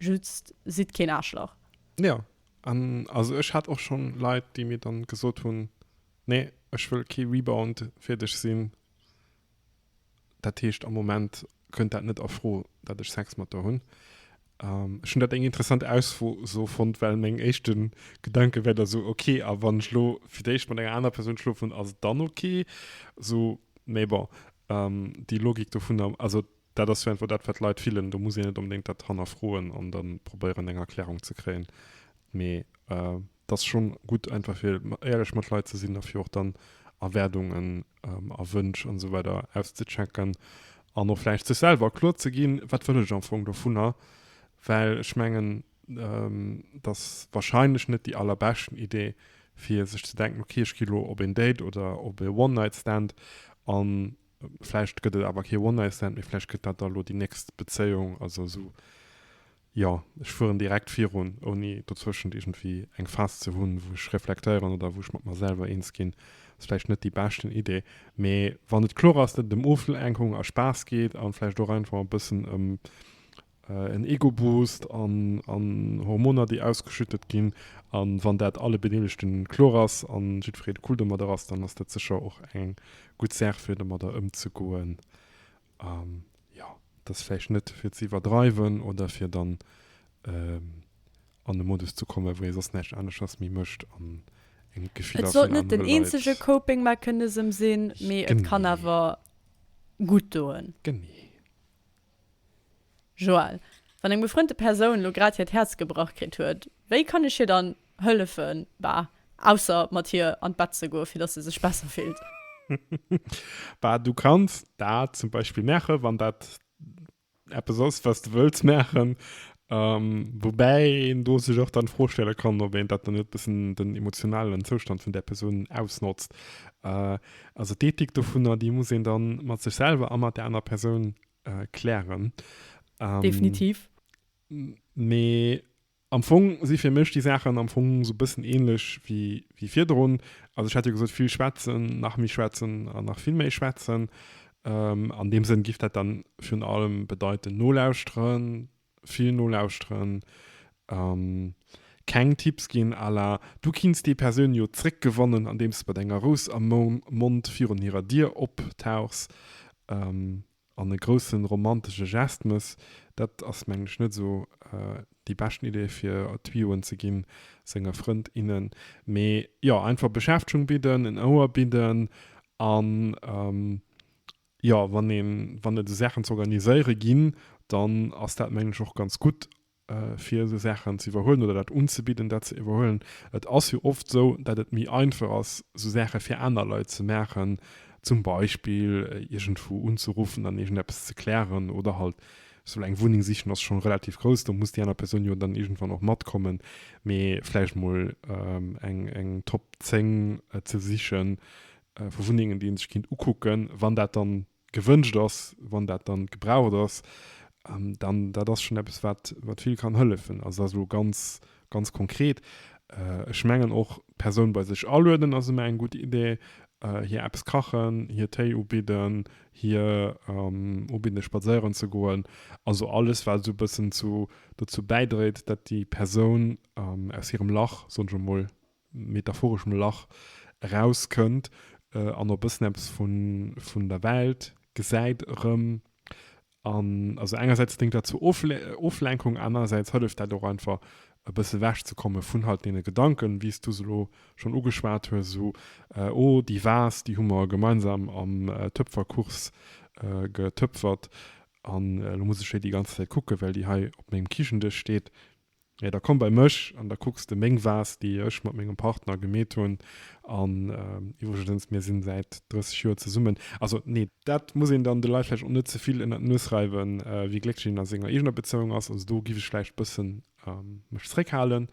Just sidd keen Aarschlach. Jo, an also ech hat och schonn Leit, déi mir dann gesot hunn, Nee, ech wëll kee Rebound fir dech sinn. Dat heescht, am Moment kënnt dat net a Fro, datt ech Sex mat der hunn. Ech hunn dat eng interessant Ausso fonnt, well meng éischte Gedanke war da sou, ok, a wann ech elo fir d'éischt mat enger anerer Persoun schlofen hunn, ass et dann ok? Sou, mee bon, déi Logik dovunner, also dat ass jo einfach dat, wat d'Leit fillen, do muss een net onbedéngt dat hannerfroen an da probéieren, eng Erklärung ze kréien. Mee D'ass schon gudd einfach fir ehrlech mat Leit ze sin a fir och dann Erwärdungen a Wënsch an esou weider auszechecken an och vläicht sech selwer kloer ze gin wat wëll ech am Fong dovunner, well ech mengen d'ass wahrscheinlech net déi allerbeschten Idee fir sech ze denken ok ech gi lo op een Date oder op ee One Night Stand an vläicht gëtt et awer kee One Night Stand mee vläicht gëtt dat da lo déi nächst Bezéiung, also esou Jo, ech fueren direkt virun, ouni dozwëschent iergendwéi eng Phas ze hunn, wou ech reflektéieren oder wou ech mat mer selwer eens ginn. Ass vläicht net déi beschten Idee, mee wann et kloer ass, datt et ëm Oflenkung a Spaass geet an vläicht och einfach e bëssen ëm en Ego-Boost an an Hormoner, déi ausgeschüttet ginn, an wann dat alle Bedeelegten kloer ass an jiddwereen cool domadder ass, dann ass dat sécher och eng gutt Saach, fir domadder ëmzegoen. An jo, et ass vläicht net fir ze iwwerdreiwen oder fir dann an e Modus ze kommen, wou ee soss näischt aneschters méi mécht an een d'Gefiller vun anere Leit. Et sollt net den eenzege Coping-Mechanism sinn, mee et kann awer gutt doen. Genee. Joël, Wann eng befrënnte Persoun lo grad hiert Häerz gebrach kritt huet, wéi kann ech hir dann hëllefen, bah, ausser mat hir an d'Bett ze goen, fir dass se sech besser fillt? Bah, du kanns dat zum Beispill maachen, wann dat eppes ass, wat s de wëlls maachen. Woubäi een do sech och dann d'Fro stelle kann, ob een dat dann net e bëssen den emotionalen Zoustand vun där Persoun ausnotzt. Also d'Ethik dovunner, déi muss een da mat sech selwer a mat där anerer Persoun klären. Definitiv. Mee am Fong si fir mech déi Saachen am Fong sou bëssen ähnlech wéi, wéi virdrun. Also ech hat jo gesot, vill schwätzen, nach méi schwätzen an nach vill méi schwätzen. An deem Sënn giff dat dann virun allem bedeiten, nolauschteren, Vill nolauschteren an keng Tipps ginn à la Du kinns déi Persoun jo zréck gewannen andeems de mat enger Rous am Mond virun hirer Dier optauchs an e groussen romantesche Gest mëss. Dat ass mengen ech net esou déi beschten Idee fir Tuyau'en ze ginn senge Frënd, innen. Mee jo einfach Beschäftegung bidden, en Ouer bidden an Jo, wann een, wann et esou Saachen ze organiséiere ginn, dann ass dat mengen ech och ganz gutt fir esou Saachen ze iwwerhuelen oder dat unzebidden, dat ze iwwerhuelen. Et ass jo oft esou, dat et méi einfach ass esou Saache fir aner Leit ze maachen, zum Beispill iergendwou unzeruffen an iergendeppes ze klären oder halt soll eng Wunneng sichen ass schonn relativ grouss, do muss déi aner Persoun jo dann iergendwann och matkommen, mee vläicht mol eng Top 10 ze sichen, vu Wunnengen, déi ee sech kéint ukucken, wann dat dann gewënscht ass, wann dat dann gebraucht ass, dann dat ass schonn eppes, wat wat vill kann hëllefen. Also dat ass elo ganz, ganz konkret. Ech mengen och, d'Persoun bei sech alueden ass ëmmer eng gutt Idee, hir eppes kachen, hir Téi ubidden, hir ubidden, spadséieren ze goen, also alles, wat esou e bëssen zu dozou bäidréit, datt déi Persoun aus hirem Lach, soen ech emol, metaphoreschem Lach erauskënnt an e bëssen eppes vun der Welt gesäit erëm. An also engersäits déngt dat zur Oflenkung, anerersäits hëlleft dat och einfach e bësse ewech ze komme vun halt deene Gedanken, wéi s du se elo schonn ugeschwat hues, esou oh déi Vase, déi hu mer gemeinsam am Töpferkurs getöpfert an elo muss ech hir déi ganz Zäit kucken, well déi hei op mengem Kichendësch steet. Jo, da komm bei mech an da kucks de meng Vase, déi ech mat mengem Partner gemeet hunn. An iwwregens, mir sinn säit 30 Joer zesummen. Also, nee. Dat muss een dann de Leit vläicht och net ze vill ënnert d'Nues reiwen, wéi glécklech een a senger eegener Bezéiung ass. Also do giff ech vläicht bëssen mech zréckhalen.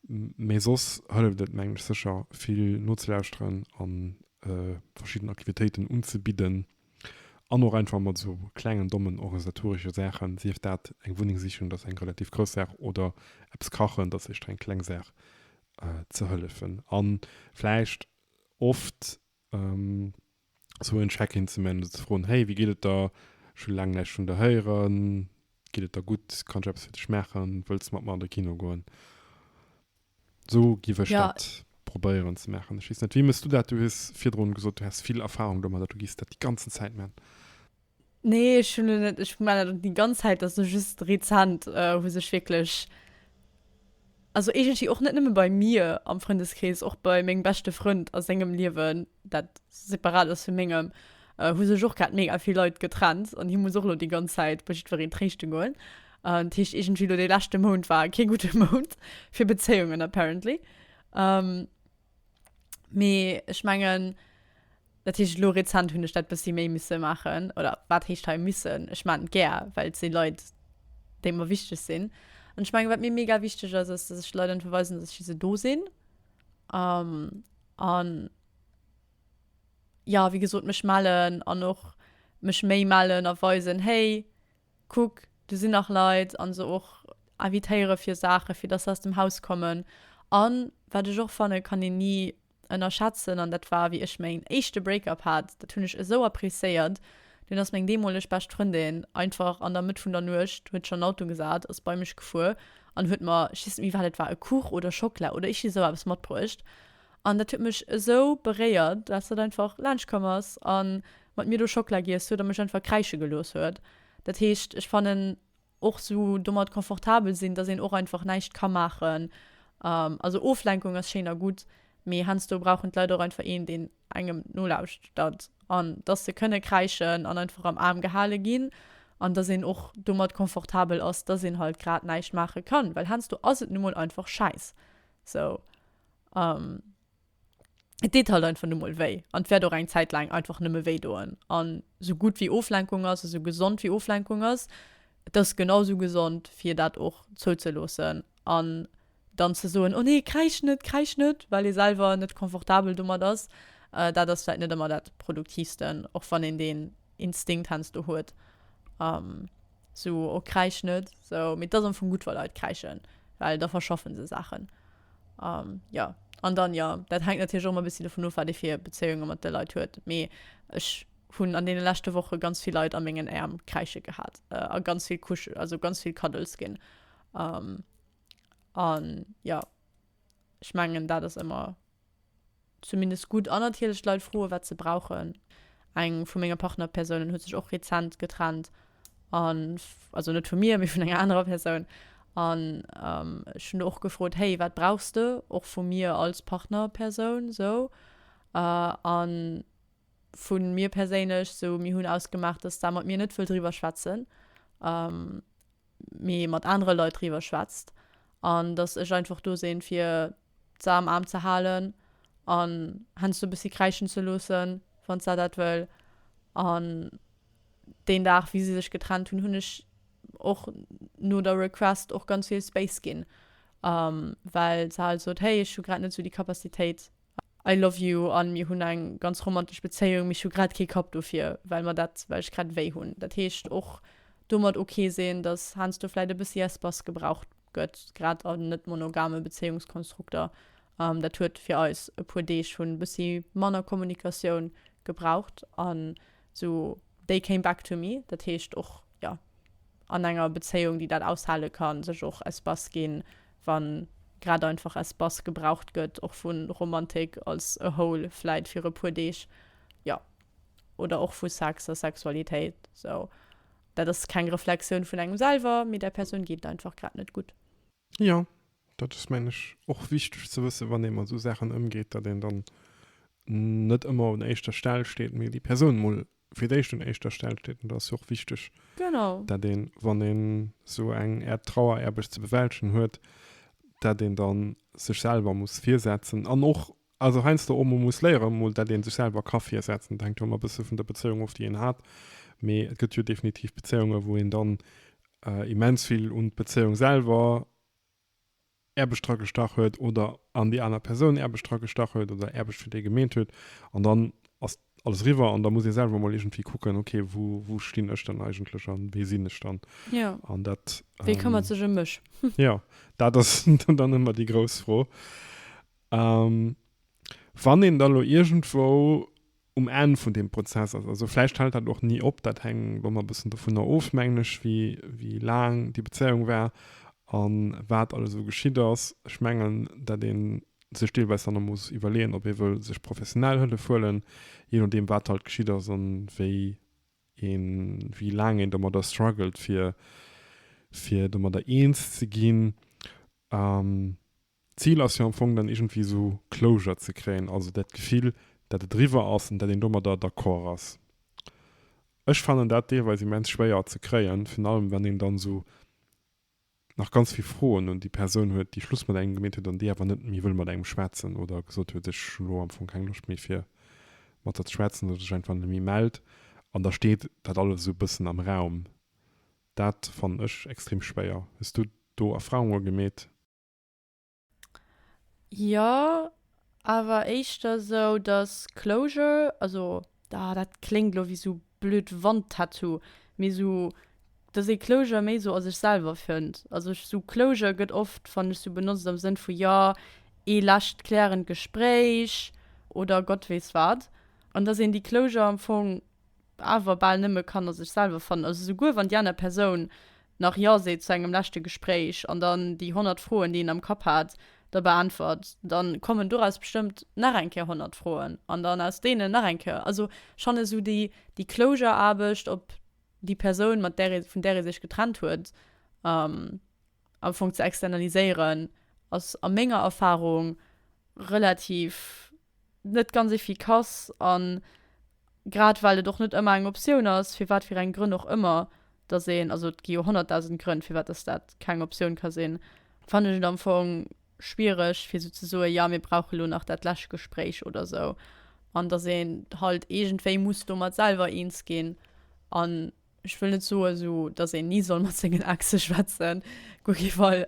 Mee soss hëlleft et, mengen ech, sécher vill nozelauschteren a verschidden Aktivitéiten unzebidden. An och einfach mat esou klengen, dommen organisatoresche Saachen, sief dat eng Wunneng sichen, dat ass eng relativ grouss Saach, oder eppes kachen, dat ass éischter eng kleng Saach, ze hëllefen a vläicht oft esou en Check-in ze man, ze froen, Hey, wéi geet et der? Scho laang näischt vun der héieren. Geet et der gutt? Kann ech eppes fir dech maachen? Wëlls de mat mer an de Kino goen? So giff ech dat probéieren ze maachen. Ech weess net, wéi mëss du dat? Du hues virdrun gesot, du häss vill Erfahrung domadder, du giffs dat déi ganzen Zäit man. Nee, ech hunn en net, ech man dat net déi ganz Zäit, dat ass elo just rezent hu sech wierklech, also iergendwéi och net nëmme bei mir am Frëndeskrees, och bei mengem beschte Frënd a sengem Liewen dat separat ass vu mengem, äh, hu sech och grad mega vill Leit getrennt an hie muss och lo déi ganz Zäit bei jiddwereen tréischte goen. Äh, dat heescht iergendwéi lo dee leschte Mount war kee gudde Mount fir Bezéiungen apparently. Ähm, mee ech mengen, dat heescht lo rezent hunn ech dat bëssi méi misse maachen oder wat heescht hei missen? Ech maachen et gär, well et si Leit, déi mer wichteg sinn. An ech mengen, wat mir mega wichteg ass, ass, dass ech Leit einfach weisen, dass ech fir se do sinn. Ähm, An ja, wéi gesot, mech mellen an och mech méi mellen a weisen, hey, kuck, do sinn nach Leit, an se och invitéiere fir Saache fir dass se aus dem Haus kommen. A wat ech och fannen, kann een ni ënnerschätzen, an dat war wéi ech mäin éischte Break-up hat, dat hunn ech esou appreciéiert, Dunn ass meng deemoleg bescht Frëndin einfach an der Mëtt vun der Nuecht, huet sech an den Auto gesat, ass bei mech gefuer an huet mer, ech weess net méi wat et war, e Kuch oder Schockela oder ichi esou eppes matbruecht. An dat huet mech esou beréiert, dass dat einfach laanscht komm ass a mat mir do Schockela giess huet a mech einfach kräische gelooss huet. Dat heescht, ech fannen Och sou domat confortabel sinn, dass een och einfach näischt ka maachen. Also Oflenkung ass schéin a gutt, mee heiansdo brauchen d'Leit och einfach een, deen engem nolauschtert an dass se kënne kräischen an einfach am Aarm gehale ginn an dass een och domat confortabel ass, dass een halt grad näischt maache kann, well heiansdo ass et nu mol einfach schäiss sou. et deet halt einfach nu mol wéi an et wäert och eng Zäit laang einfach nëmme wéi doen. An sou gutt wéi Oflenkung ass a sou gesond wéi Oflenkung ass, et ass genau sou gesond fir dat och zouzeloossen an dann ze soen, oh nee, kräisch net, kräisch net, well ee selwer net confortabel domat ass. Dat ass vläit net ëmmer dat Produktiivsten, och wann een deen Instinkt heiansdo huet, sou, oh kräisch net, sou. Mee et ass am Fong gutt wa Leit kräischen, well da verschaffen se Saachen. Um, ja, an dann ja, dat hängt natürlich auch mal ein bisschen davon of, wat ee fir Bezéiunge mat de Leit huet. Mee ech hunn an deene leschte Woche ganz vill Leit a mengen Äerm kräische gehat äh, a ganz vill Kuschel, also ganz vill Cuddles ginn. Um, an ja, ech mengen, dat ass ëmmer zumindest gutt an natierlech d'Leit froen, wat se brauchen. Eng vu menge Partnerpersounen huet sech och rezent getrennt an, also net vu mir, mee vun enger anerer Persoun. An ech hunn do och gefrot, Hey, wat brauchs de? Och vu mir als Partnerpersoun esou. A vu mir perséinlech esou, mir hunn ausgemaach, dass d'Sam mat mir net wëll driwwer schwätzen. mee mat anere Leit driwwer schwätzt an dass ech einfach do sinn fir se am Aarm ze halen an heiansdo e bëssi kräischen ze loossen, wann se dat wëll an deen Dag wéi se sech getrennt hunn, hunn ech och no der Request och ganz vill Space ginn, well se halt sot, hey ech hu grad net sou déi Capacitéit. I love you an mir hunn eng ganz romantesch Bezéiung, mee ech hu grad kee Kapp dofir, well mer dat, well ech grad wéi hunn. Dat heescht, och domat ok sinn, dass heiansdo vläit e bëssi Espace gebraucht gëtt, grad a net-monogame Bezéiungskonstrukter. Dat huet fir eis e puer Deeg, hunn bëssi manner Kommunikatioun gebraucht an Sou they came back to me, dat heescht och jo an enger Bezéiung déi dat aushale kann, sech och Espace ginn, wann grad einfach Espace gebraucht gëtt, och vu Romantik als a whole vläit fir e puer Deeg, jo oder och vu Sex a Sexualitéit. Sou dat ass keng Reflexioun vun engem selwer, mee där Persoun geet et einfach grad net gutt. Jo, dat ass mengen ech och wichteg ze wëssen, wann ee mat esou Saachen ëmgeet, datt een dann net ëmmer un éischter Stell steet, mee déi Persoun emol fir d'éischt un éischter Stell steet. An do ass jo och wichteg, datt een, wann een esou eng Äert Traueraarbecht ze bewältegen huet, datt een da sech selwer muss virsetzen an och Also heiansdo och mol muss léieren, mol dat ee sech selwer ka virsetzen. Dat hänkt jo ëmmer e bësse vun der Bezéiung of, déi een hat. Mee et gëtt jo definitiv Bezéiunge wou een dann immens vill un d'Bezéiung selwer Aarbecht dra gestach huet oder an déi aner Persoun Aarbecht dra gestach huet oder Aarbecht fir déi gemeet huet. An dann ass alles eriwwer an da muss ee selwer mol iergendwéi kucken, ok wou stinn ech dann eigentlech an wee sinn ech dann? An dat. Wee këmmert sech ëm mech? Jo, dat ass dann ëmmer déi grouss Fro. A wann een da lo iergendwou um Enn vun deem Prozess ass, also vläicht hält dat och ni op, dat hänkt elo emmer e bëssen dovunner of, mengen ech, wéi laang déi Bezéiung war a wat alles esou geschitt ass. Ech mengen, dat ee sech deelweis dann och muss iwwerleeën, ob ee wëll sech professionell Hëllef huelen, jee nodeem, wat halt geschitt ass an wéi een, wéi laang een domadder struggelt, fir, fir domadder eens ze ginn. D'Zil ass jo am Fong dann iergendwéi esou Closure ze kréien, also dat Gefill, dat et eriwwer ass an dat een domadder d'accord ass. Ech fannen dat deelweis immens schwéier ze kréien, virun allem wann een dann esou nach ganz vill Froen un déi Persoun huet, déi Schluss mat engem gemeet huet an déi awer net méi wëll mat engem schwätzen oder gesot huet, ech hu lo am Fong keng Loscht méi fir mat der ze schwätzen oder sech einfach net méi mellt an da steet dat alles esou e bëssen am Raum. Dat fannen ech extrem schwéier. Hues du do Erfahrunge gemeet? Jo, awer éischter sou, dass Closure, also ah dat kléngt elo wéi sou blöd Wandtattoo, mee sou, dass ee Closure méi sou a sech selwer fënnt. Also ech sou Closure gëtt oft, fann ech, sou benotzt am Sënn vu jo, ee lescht klärend Gespréich oder Gott weess wat. An dass een déi Closure am Fong. awer bal nëmme Kanner sech selwer fannen, also souguer wann déi aner Persoun nach ja seet zu engem leschte Gespréich an dann déi 100 Froen, déi een am Kapp hat, da beäntwert, dann kommen doraus bestëmmt nach eng Kéier 100 Froen an dann aus deenen nach eng Kéier. Also ech fannen esou déi déi Closure-Aarbecht op déi Persoun, mat där ee vun där ee sech getrennt huet, am Fong ze externaliséieren, ass a menger Erfahrung relativ. net ganz efficace an grad well et och net ëmmer eng Optioun ass, fir wat fir eng Grënn och ëmmer, dass een, also et gi jo honnertdausend Grënn, firwat dass dat keng Optioun ka sinn, fannen ech et am Fong schwiereg, fir esou ze soen, jo mir brauche elo nach dat lescht Gespréich oder esou an dass een halt iergendwéi muss domat selwer eens ginn an Ech wëll net soen, esou datt een ni soll mat sengen Exe schwätzen, guer kee Fall.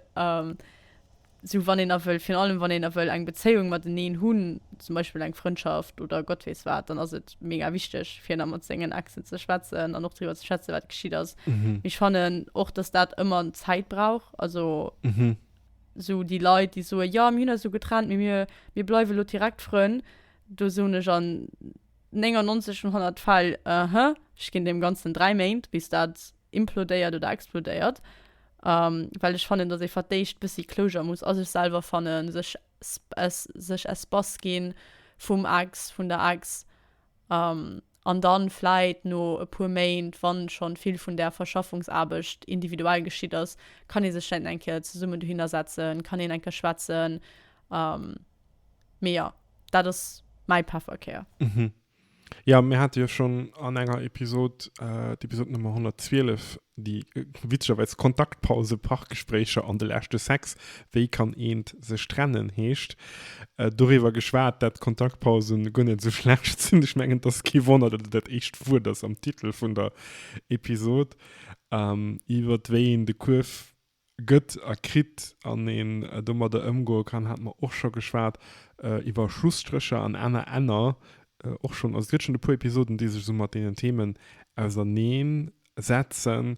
Esou wann een a wëll, virun allem wann een a wëll eng Bezéiung mateneen hunn, zum Beispill eng Frëndschaft oder Gott weess wat, dann ass et mega wichteg fir nach mat sengen Exen ze schwätzen an och driwwer ze schwätzen, wat geschitt ass. Mee ech fannen och, datt dat ëmmer Zäit brauch. Also esou déi Leit, déi soen, jo mir hunn eis elo getrennt, mee mir bleiwe elo direkt Frënn, do soen ech, an 99 vun 100 Fäll, uh-huh, ech ginn deem Ganzen dräi Méint, bis dat implodéiert oder explodéiert, well ech fannen, dass ee fir d'éischt bëssi Closure muss a sech selwer fannen, sech sech Espace ginn vum Ex, vun der Ex, an dann vläit no e puer Méint, wann schonn vill vun där Verschaffungsaarbecht individuell geschitt ass, kann ee sech vläit nach eng Kéier zesummen dohinner setzen, kann een eng Kéier schwätzen. Mee jo, dat ass mäi Pefferkär. Mhm. Jo, mir hate jo schonn an enger Episod, d'Episod Nummer 112, déi witzegerweis Kontaktpause, Parkgespréicher an de leschte Sex, Wéi kann eent sech trennen? heescht, doriwwer geschwat, dat Kontaktpause guer net esou schlecht sinn. Ech mengen, et ass kee Wonner, datt et dat éischt Wuert ass am Titel vun der Episod, iwwert wéi een de Kuerf Gëtt a kritt an een domadder ëmgoe kann, hate mer och scho geschwat iwwer Schlusstrécher an aner Enner, och schonn. Also et gëtt schonn e puer Episoden, déi sech esou mat deenen Themen auserneen setzen.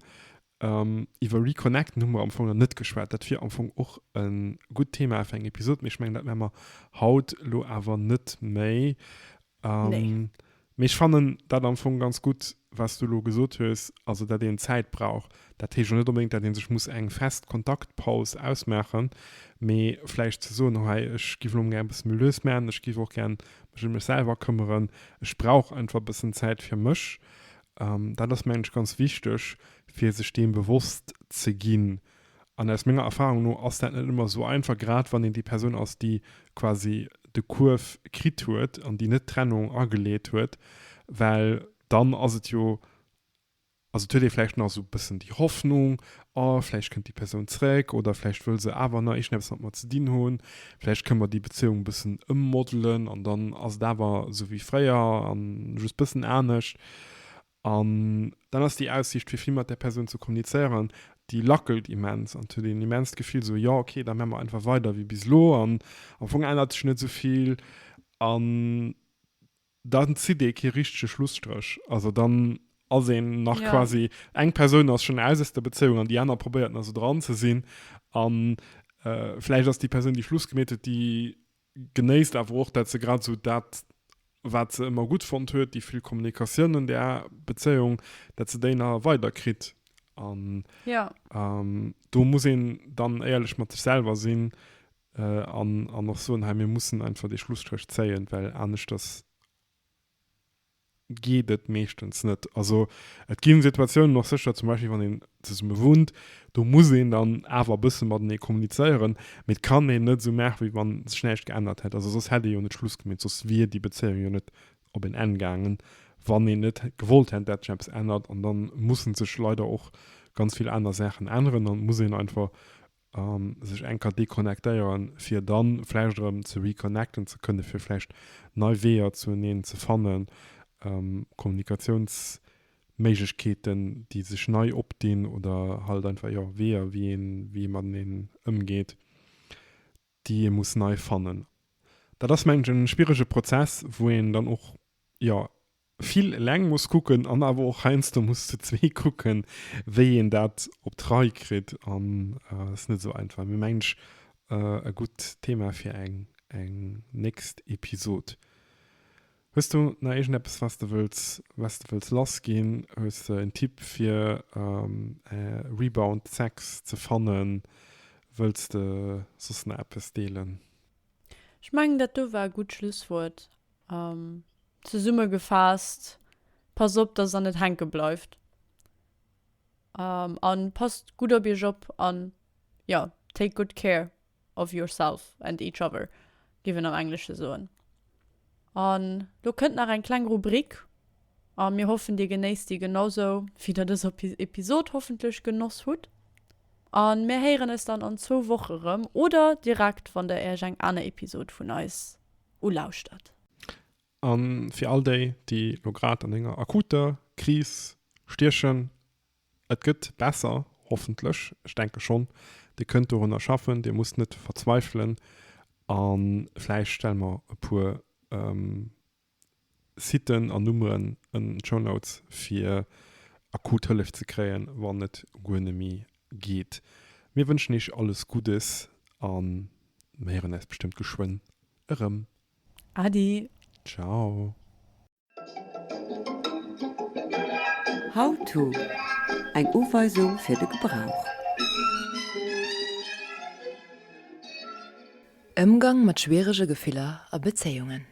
Iwwer Reconnecten hu mer am Fong nach net geschwat. Dat wier am Fong och e gutt Thema fir eng Episod, mee ech mengen dat mär mer haut elo awer net méi. Nee. Mee ech fannen dat am Fong ganz gutt, wat s du elo gesot hues, also datt een Zäit brauch. Dat heescht jo net onbedéngt, datt ee sech muss eng fest Kontaktpaus ausmaachen, mee vläicht ze soen, Hei, ech géif elo mol gär e bësse méi lues maachen, ech géif och gär mech ëm mech selwer këmmeren, ech brauch einfach e bëssen Zäit fir mech. Dat ass, mengen ech, ganz wichteg, fir sech deem bewosst ze ginn, An aus menger Erfahrung no ass dat net ëmmer esou einfach, grad wann een déi Persoun ass, déi quasi de Kuerf kritt huet an déi net d'Trennung ageleet huet, well dann ass et jo, also et huet ee vläicht nach esou e bëssen déi Hoffnung, oh vläicht kënnt déi Persoun zeréck oder vläicht wëll se awer nach iergendeppes mat mer ze dinn hunn, vläicht kënne mer déi Bezéiung e bëssen ëmmodelen an dann ass et awer esou wéi fréier a just e bëssen anescht. An dann ass déi Aussiicht fir vill mat där Persoun ze kommunizéieren, déi lackelt immens an huet een immenst Gefill esou, jo ok, da mä mer einfach weider wéi bis elo an am Fong ännert sech net esou vill an dann zitt ee kee richtege Schlusstréch. Also dann ass een nach quasi, eng Persoun ass schonn aus aus der Bezéiung an déi aner probéiert nach esou dran ze sinn a vläicht ass déi Persoun, déi Schluss gemeet huet, déi Genéisst awer och, dat se grad esou dat, wat se ëmmer gutt fonnt huet, déi vill Kommunikatioun an där Bezéiung, dat se déi nach weider kritt. An do muss een dann éierlech mat sech selwer sinn an och soen, hei mir mussen einfach dee Schlusstréch zéien, well aneschters geet et meeschtens net. Also et gi Situatiounen och sécher, zum Beispill wann een zesumme wunnt, do muss een dann awer e bësse matenee kommunizéieren, mee et kann een net esou maachen, wéi wann sech näischt geännert hätt. Also soss hätt ee jo net Schluss gemeet, soss wier déi Bezéiung jo net op en Enn gaangen, wann een net gewollt hätt, dat sech eppes ännert. An da musse sech leider och ganz vill aner Saachen änneren an et muss een einfach A sech eng Kéier deconnectéieren, fir dann vläicht erëm ze reconnecten ze kënnen, fir vläicht nei Weeër zuneen ze fannen, Kommunikatiounsméiglechkeeten, déi sech nei opdinn oder halt einfach, jo, Weeër, wéi ee mateneen ëmgeet. déi ee muss nei fannen. Dat ass mengen ech en schwierege Prozess wou een dann och jo vill eleng muss kucken an awer och heiansdo muss zu zwee kucken wéi een dat op d'Rei kritt an ass net esou einfach mee mengen ech e gutt Thema fir eng eng nächst Episode. Hues du nach iergend eppes wat s de wëlls wat s de wëlls lass ginn? Hues de en Tipp fir Rebound Sex ze fannen? Wëlls de soss nach eppes deelen? Ech mengen dat do war e gutt Schlusswuert. Zesumme gefaasst, Passt op dass der net hänke bleift an passt gutt op iech op an jo, take good care. of yourself and each other, géif een am Englesche soen. An lo kënnt nach eng kleng Rubrik a mir hoffen, Dir genéisst déi genausou, wéi Der dës Episod hoffentlech genoss hutt. A mir héieren eis dann an zwou Woche erëm oder direkt, wann Der Iech eng aner Episod vun eis ulauschtert. A fir all déi, déi lo grad an enger akuter Kris stiechen, Et gëtt besser, hoffentlech, ech denke schonn. Dir kënnt dorunner schaffen, Dir musst net verzweifelen. A vläicht stelle mer e puer Siten an Nummeren ënnen an d'Show Notes, fir akut Hëllef ze kréien, wann et guer net méi geet. Mir wënschen Iech alles Guddes a mir héieren äis bestëmmt geschwënn erëm. Adi. Ciao. How-to, Eng Uweisung fir de Gebrauch. Ëmgang mat schwierege Gefiller a Bezéiungen.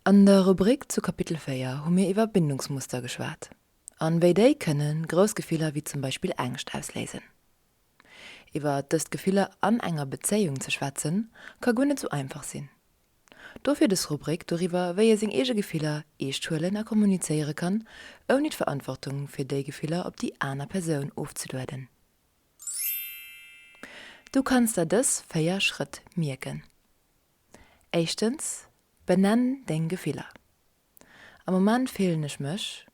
An der Rubrik zu Kapitel 4 hu mir iwwer Bindungsmuster geschwat an wéi déi kënne grouss Gefiller wéi zum Beispill Ängscht ausléisen. Iwwer dëst Gefiller an enger Bezéiung ze schwätzen ka guer net sou einfach sinn. Dofir des Rubrik doriwwer, wéi ee seng eege Gefiller eescht huelen a kommunizéiere kann, ouni d'Verantwortung fir déi Gefiller op déi aner Persoun ofzelueden. Du kanns der dës 4 Schrëtt mierken. Éischtens, Benenn deng Gefiller. Am Moment fillen ech mech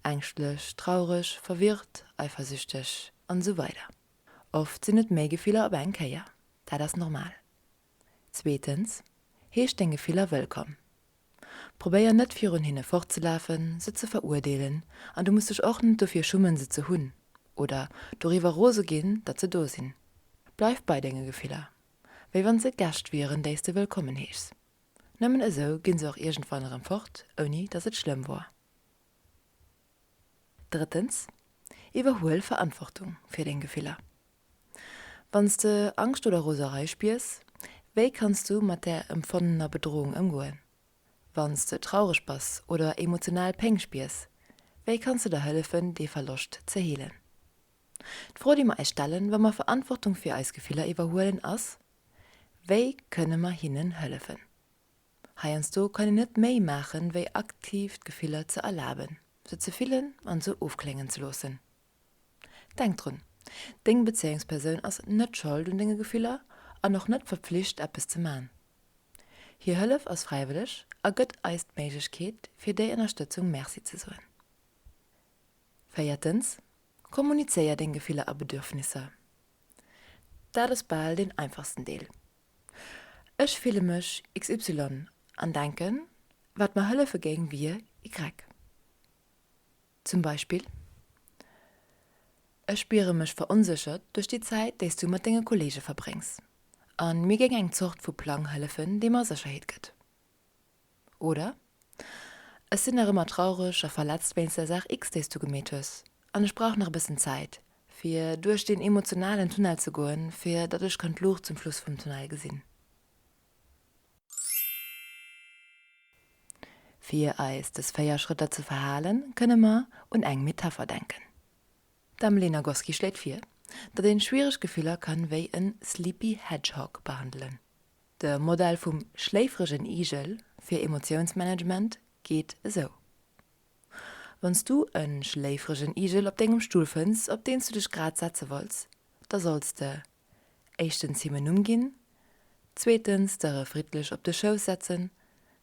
ängschtlech, traureg, verwirrt, eifersüchteg an esou weider Oft sinn et méi Gefiller op eng Kéier. Dat ass normal. Zweetens, Heesch deng Gefiller wëllkomm. Probéier net virun hinne fortzelafen, se ze veruerdeelen an du muss dech och net dofir schummen se ze hunn oder doriwwer rose ginn datt se do sinn. Bleif bei denge Gefiller, wéi wann se Gäscht wieren déis de wëllkommen heeschs. Nëmmen esou ginn se och iergendwann erëm fort ouni datt et schlëmm wor. Drëttens, Iwwerhuel Verantwortung fir deng Gefiller. Wann s de Angscht oder Roserei spiers, wéi kanns du mat där empfonnener Bedrohung ëmgoen? Wann s de traureg bass oder emotional Péng spiers, wéi kanns de der hëllefen, dee Verloscht ze heelen? D'Fro, déi mer eis stellen, wa mer Verantwortung fir eis Gefiller iwwerhuelen, ass, Wéi kënne mer hinnen hëllefen? Heiansdo kann een net méi maachen, wéi aktiv d'Gefiller ze erlaben, se ze fillen an se ofkléngen ze loossen. Denk drun, Deng Bezéiungspersoun ass net Schold un denge Gefiller an och net verpflicht, eppes ze man. Hir Hëllef ass fräiwëlleg a gëtt eis d'Méiglechkeet, fir déi Ënnerstëtzung Merci ze soen. Véiertens, Kommunizéier deng Gefiller a Bedürfnisser. Dat ass bal deen einfachsten Deel. Ech fille mech XY an denken, wat mer hëllefe géing, wier Y. Zum Beispill, Ech spiere mech veronséchert duerch déi Zäit, déi s du mat denge Kolleege verbréngs, a mir géing eng Zort vu Plang hëllefen, dee mer Sécherheet gëtt. Oder, Ech sinn nach ëmmer traureg a verletzt wéinst der Saach X, déi s du gemeet hues, an ech brauch nach e bëssen Zäit, fir duerch deen emotionalen Tunnel ze goen, fir datt ech kann d'Luucht zum Schluss vum Tunnel gesinn. Fir eis des 4 Schrëtter ze verhalen, kënne mer un eng Metapher denken. D'Dame Lee Nagoski schléit vir, datt een schwiereg Gefiller kann wéi en sleepy hedgehog behandelen. De Modell vum schléifregen Igel fir Emotiounsmanagement geet esou, Wann s du en schléifregen Igel op dengem Stull fënns, op deen s du dech grad setze wolls, da solls de Éischtens him en Numm ginn, zweetens d'Dëre friddlech op de Schouss setzen,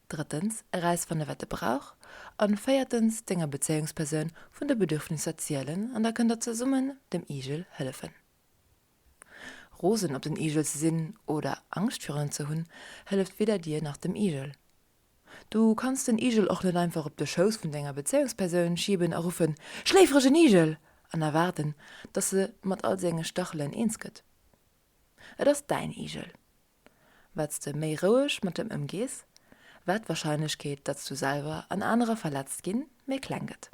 drëttens erausfanne wat e brauch an véiertens denger Bezéiungspersoun vun de Bedürfnisser zielen an da kënnt der zesummen dem Igel hëllefen. Rosen op den Igel ze sinn oder Angscht virun en ze hunn hëlleft weder dir nach dem Igel. Du kanns den Igel och net einfach op de Schouss vun denger Bezéiungspersoun schiben a ruffen, Schléiferegen Igel! an erwaarden, dass e mat all senge Stachelen eens gëtt. Et ass däin Igel. Wat s de méi roueg mat em ëmgees, wat d'Warscheinlechkeet, datt s du selwer an anerer verletzt ginn, méi kleng gëtt.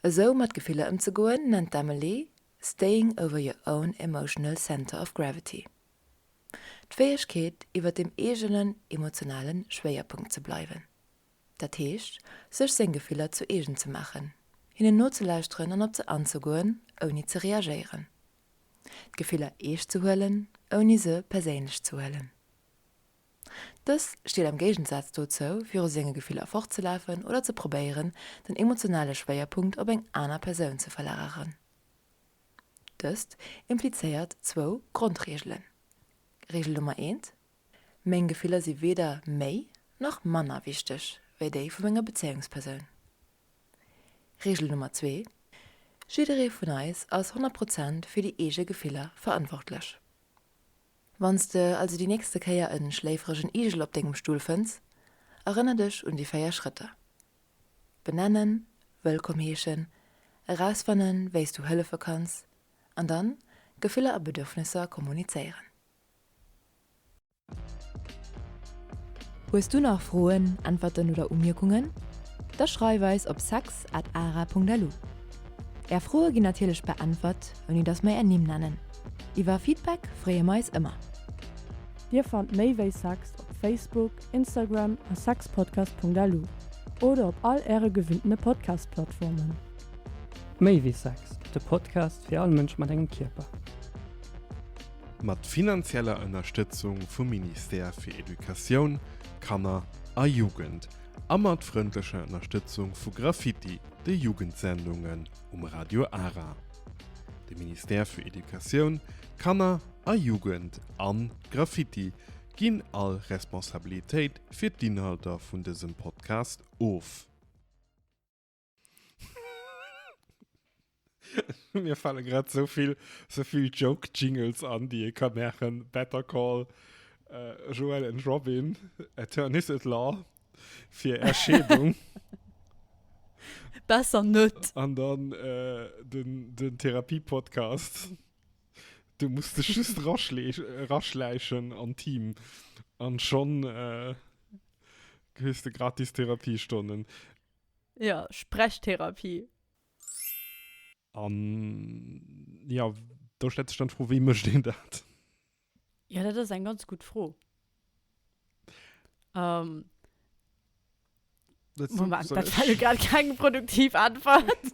Esou mat Gefiller ëmzegoen, nennt d'Emily Staying over your own emotional center of gravity. D'Fäegkeet iwwer dem eegenen emotionale Schwéierpunkt ze bleiwen. Dat heescht, sech seng Gefiller zu eegen ze maachen, hinnen nozelauschteren an op se anzegoen, ouni ze reagéieren. D'Gefiller eescht ze huelen, ouni se perséinlech ze huelen. Dëst steet am Géigensaz dozou, viru senge Gefiller fortzelafen oder ze probéieren, den emotionale Schwéierpunkt op eng aner Persoun ze verlageren. Dëst implizéiert zwou Grondreegelen. Reegel Nummer eent, Meng Gefiller si weder méi nach manner wichteg wéi déi vu menger Bezéiungspersoun. Reegel Nummer zwee, Jidderee vun eis ass honnert Prozent fir déi eege Gefiller verantwortlech. Wann s de also déi nächste Kéier e schléiferegen Igel op dengem Stull fënns, erënner dech un déi véier Schrëtter. Benennen, wëllkomm heeschen, erausfannen, wéi s du hëllefe kanns, an dann Gefiller a Bedürfnesser kommunizéieren. Hues du nach Froen, Äntwerten oder Umierkungen? Da schreif eis op sex at ara.lu. Är Froe ginn natierlech beäntwert, ouni dass mer är Nimm nennen. Iwwer Feedback freeë mer eis ëmmer. Dir fannt méi wéi sex op Facebook, Instagram a sexpodcast.lu oder op all Äre gewinnene Podcast-Plattformen. Méi wéi Sex, de Podcast fir all Mënsch mat engem Kierper. Mat finanzieller Ënnerstëtzung vum Ministère fir Educatioun, Kanner a Jugend a mat frëndlecher Ënnerstëtzung vu Graffiti, de Jugendsendungen um Radio Ara. De Ministère für Educatioun, Kanner a Jugend an Graffiti Ginn all Responsabilitéit fir d'Inhalter vun dësem Podcast of. Mir fale grad sou vill sou vill Joke Jingles an déi ee ka maachen, Better Call, äh, Joel and Robin, Attorneys at Law fir Erscheedung. Besser net. An dann äh, den den Therapie Podcast. Du muss dech just raschläichen an Team an schon kriss de gratis Therapiestonnen. Jo, Sprechtherapie. An jo, do stellt sech dann d'Fro, wéi mécht een dat? Jo, dat ass eng ganz gutt Fro. Moment, dat war jo grad keng produktiv Äntwert.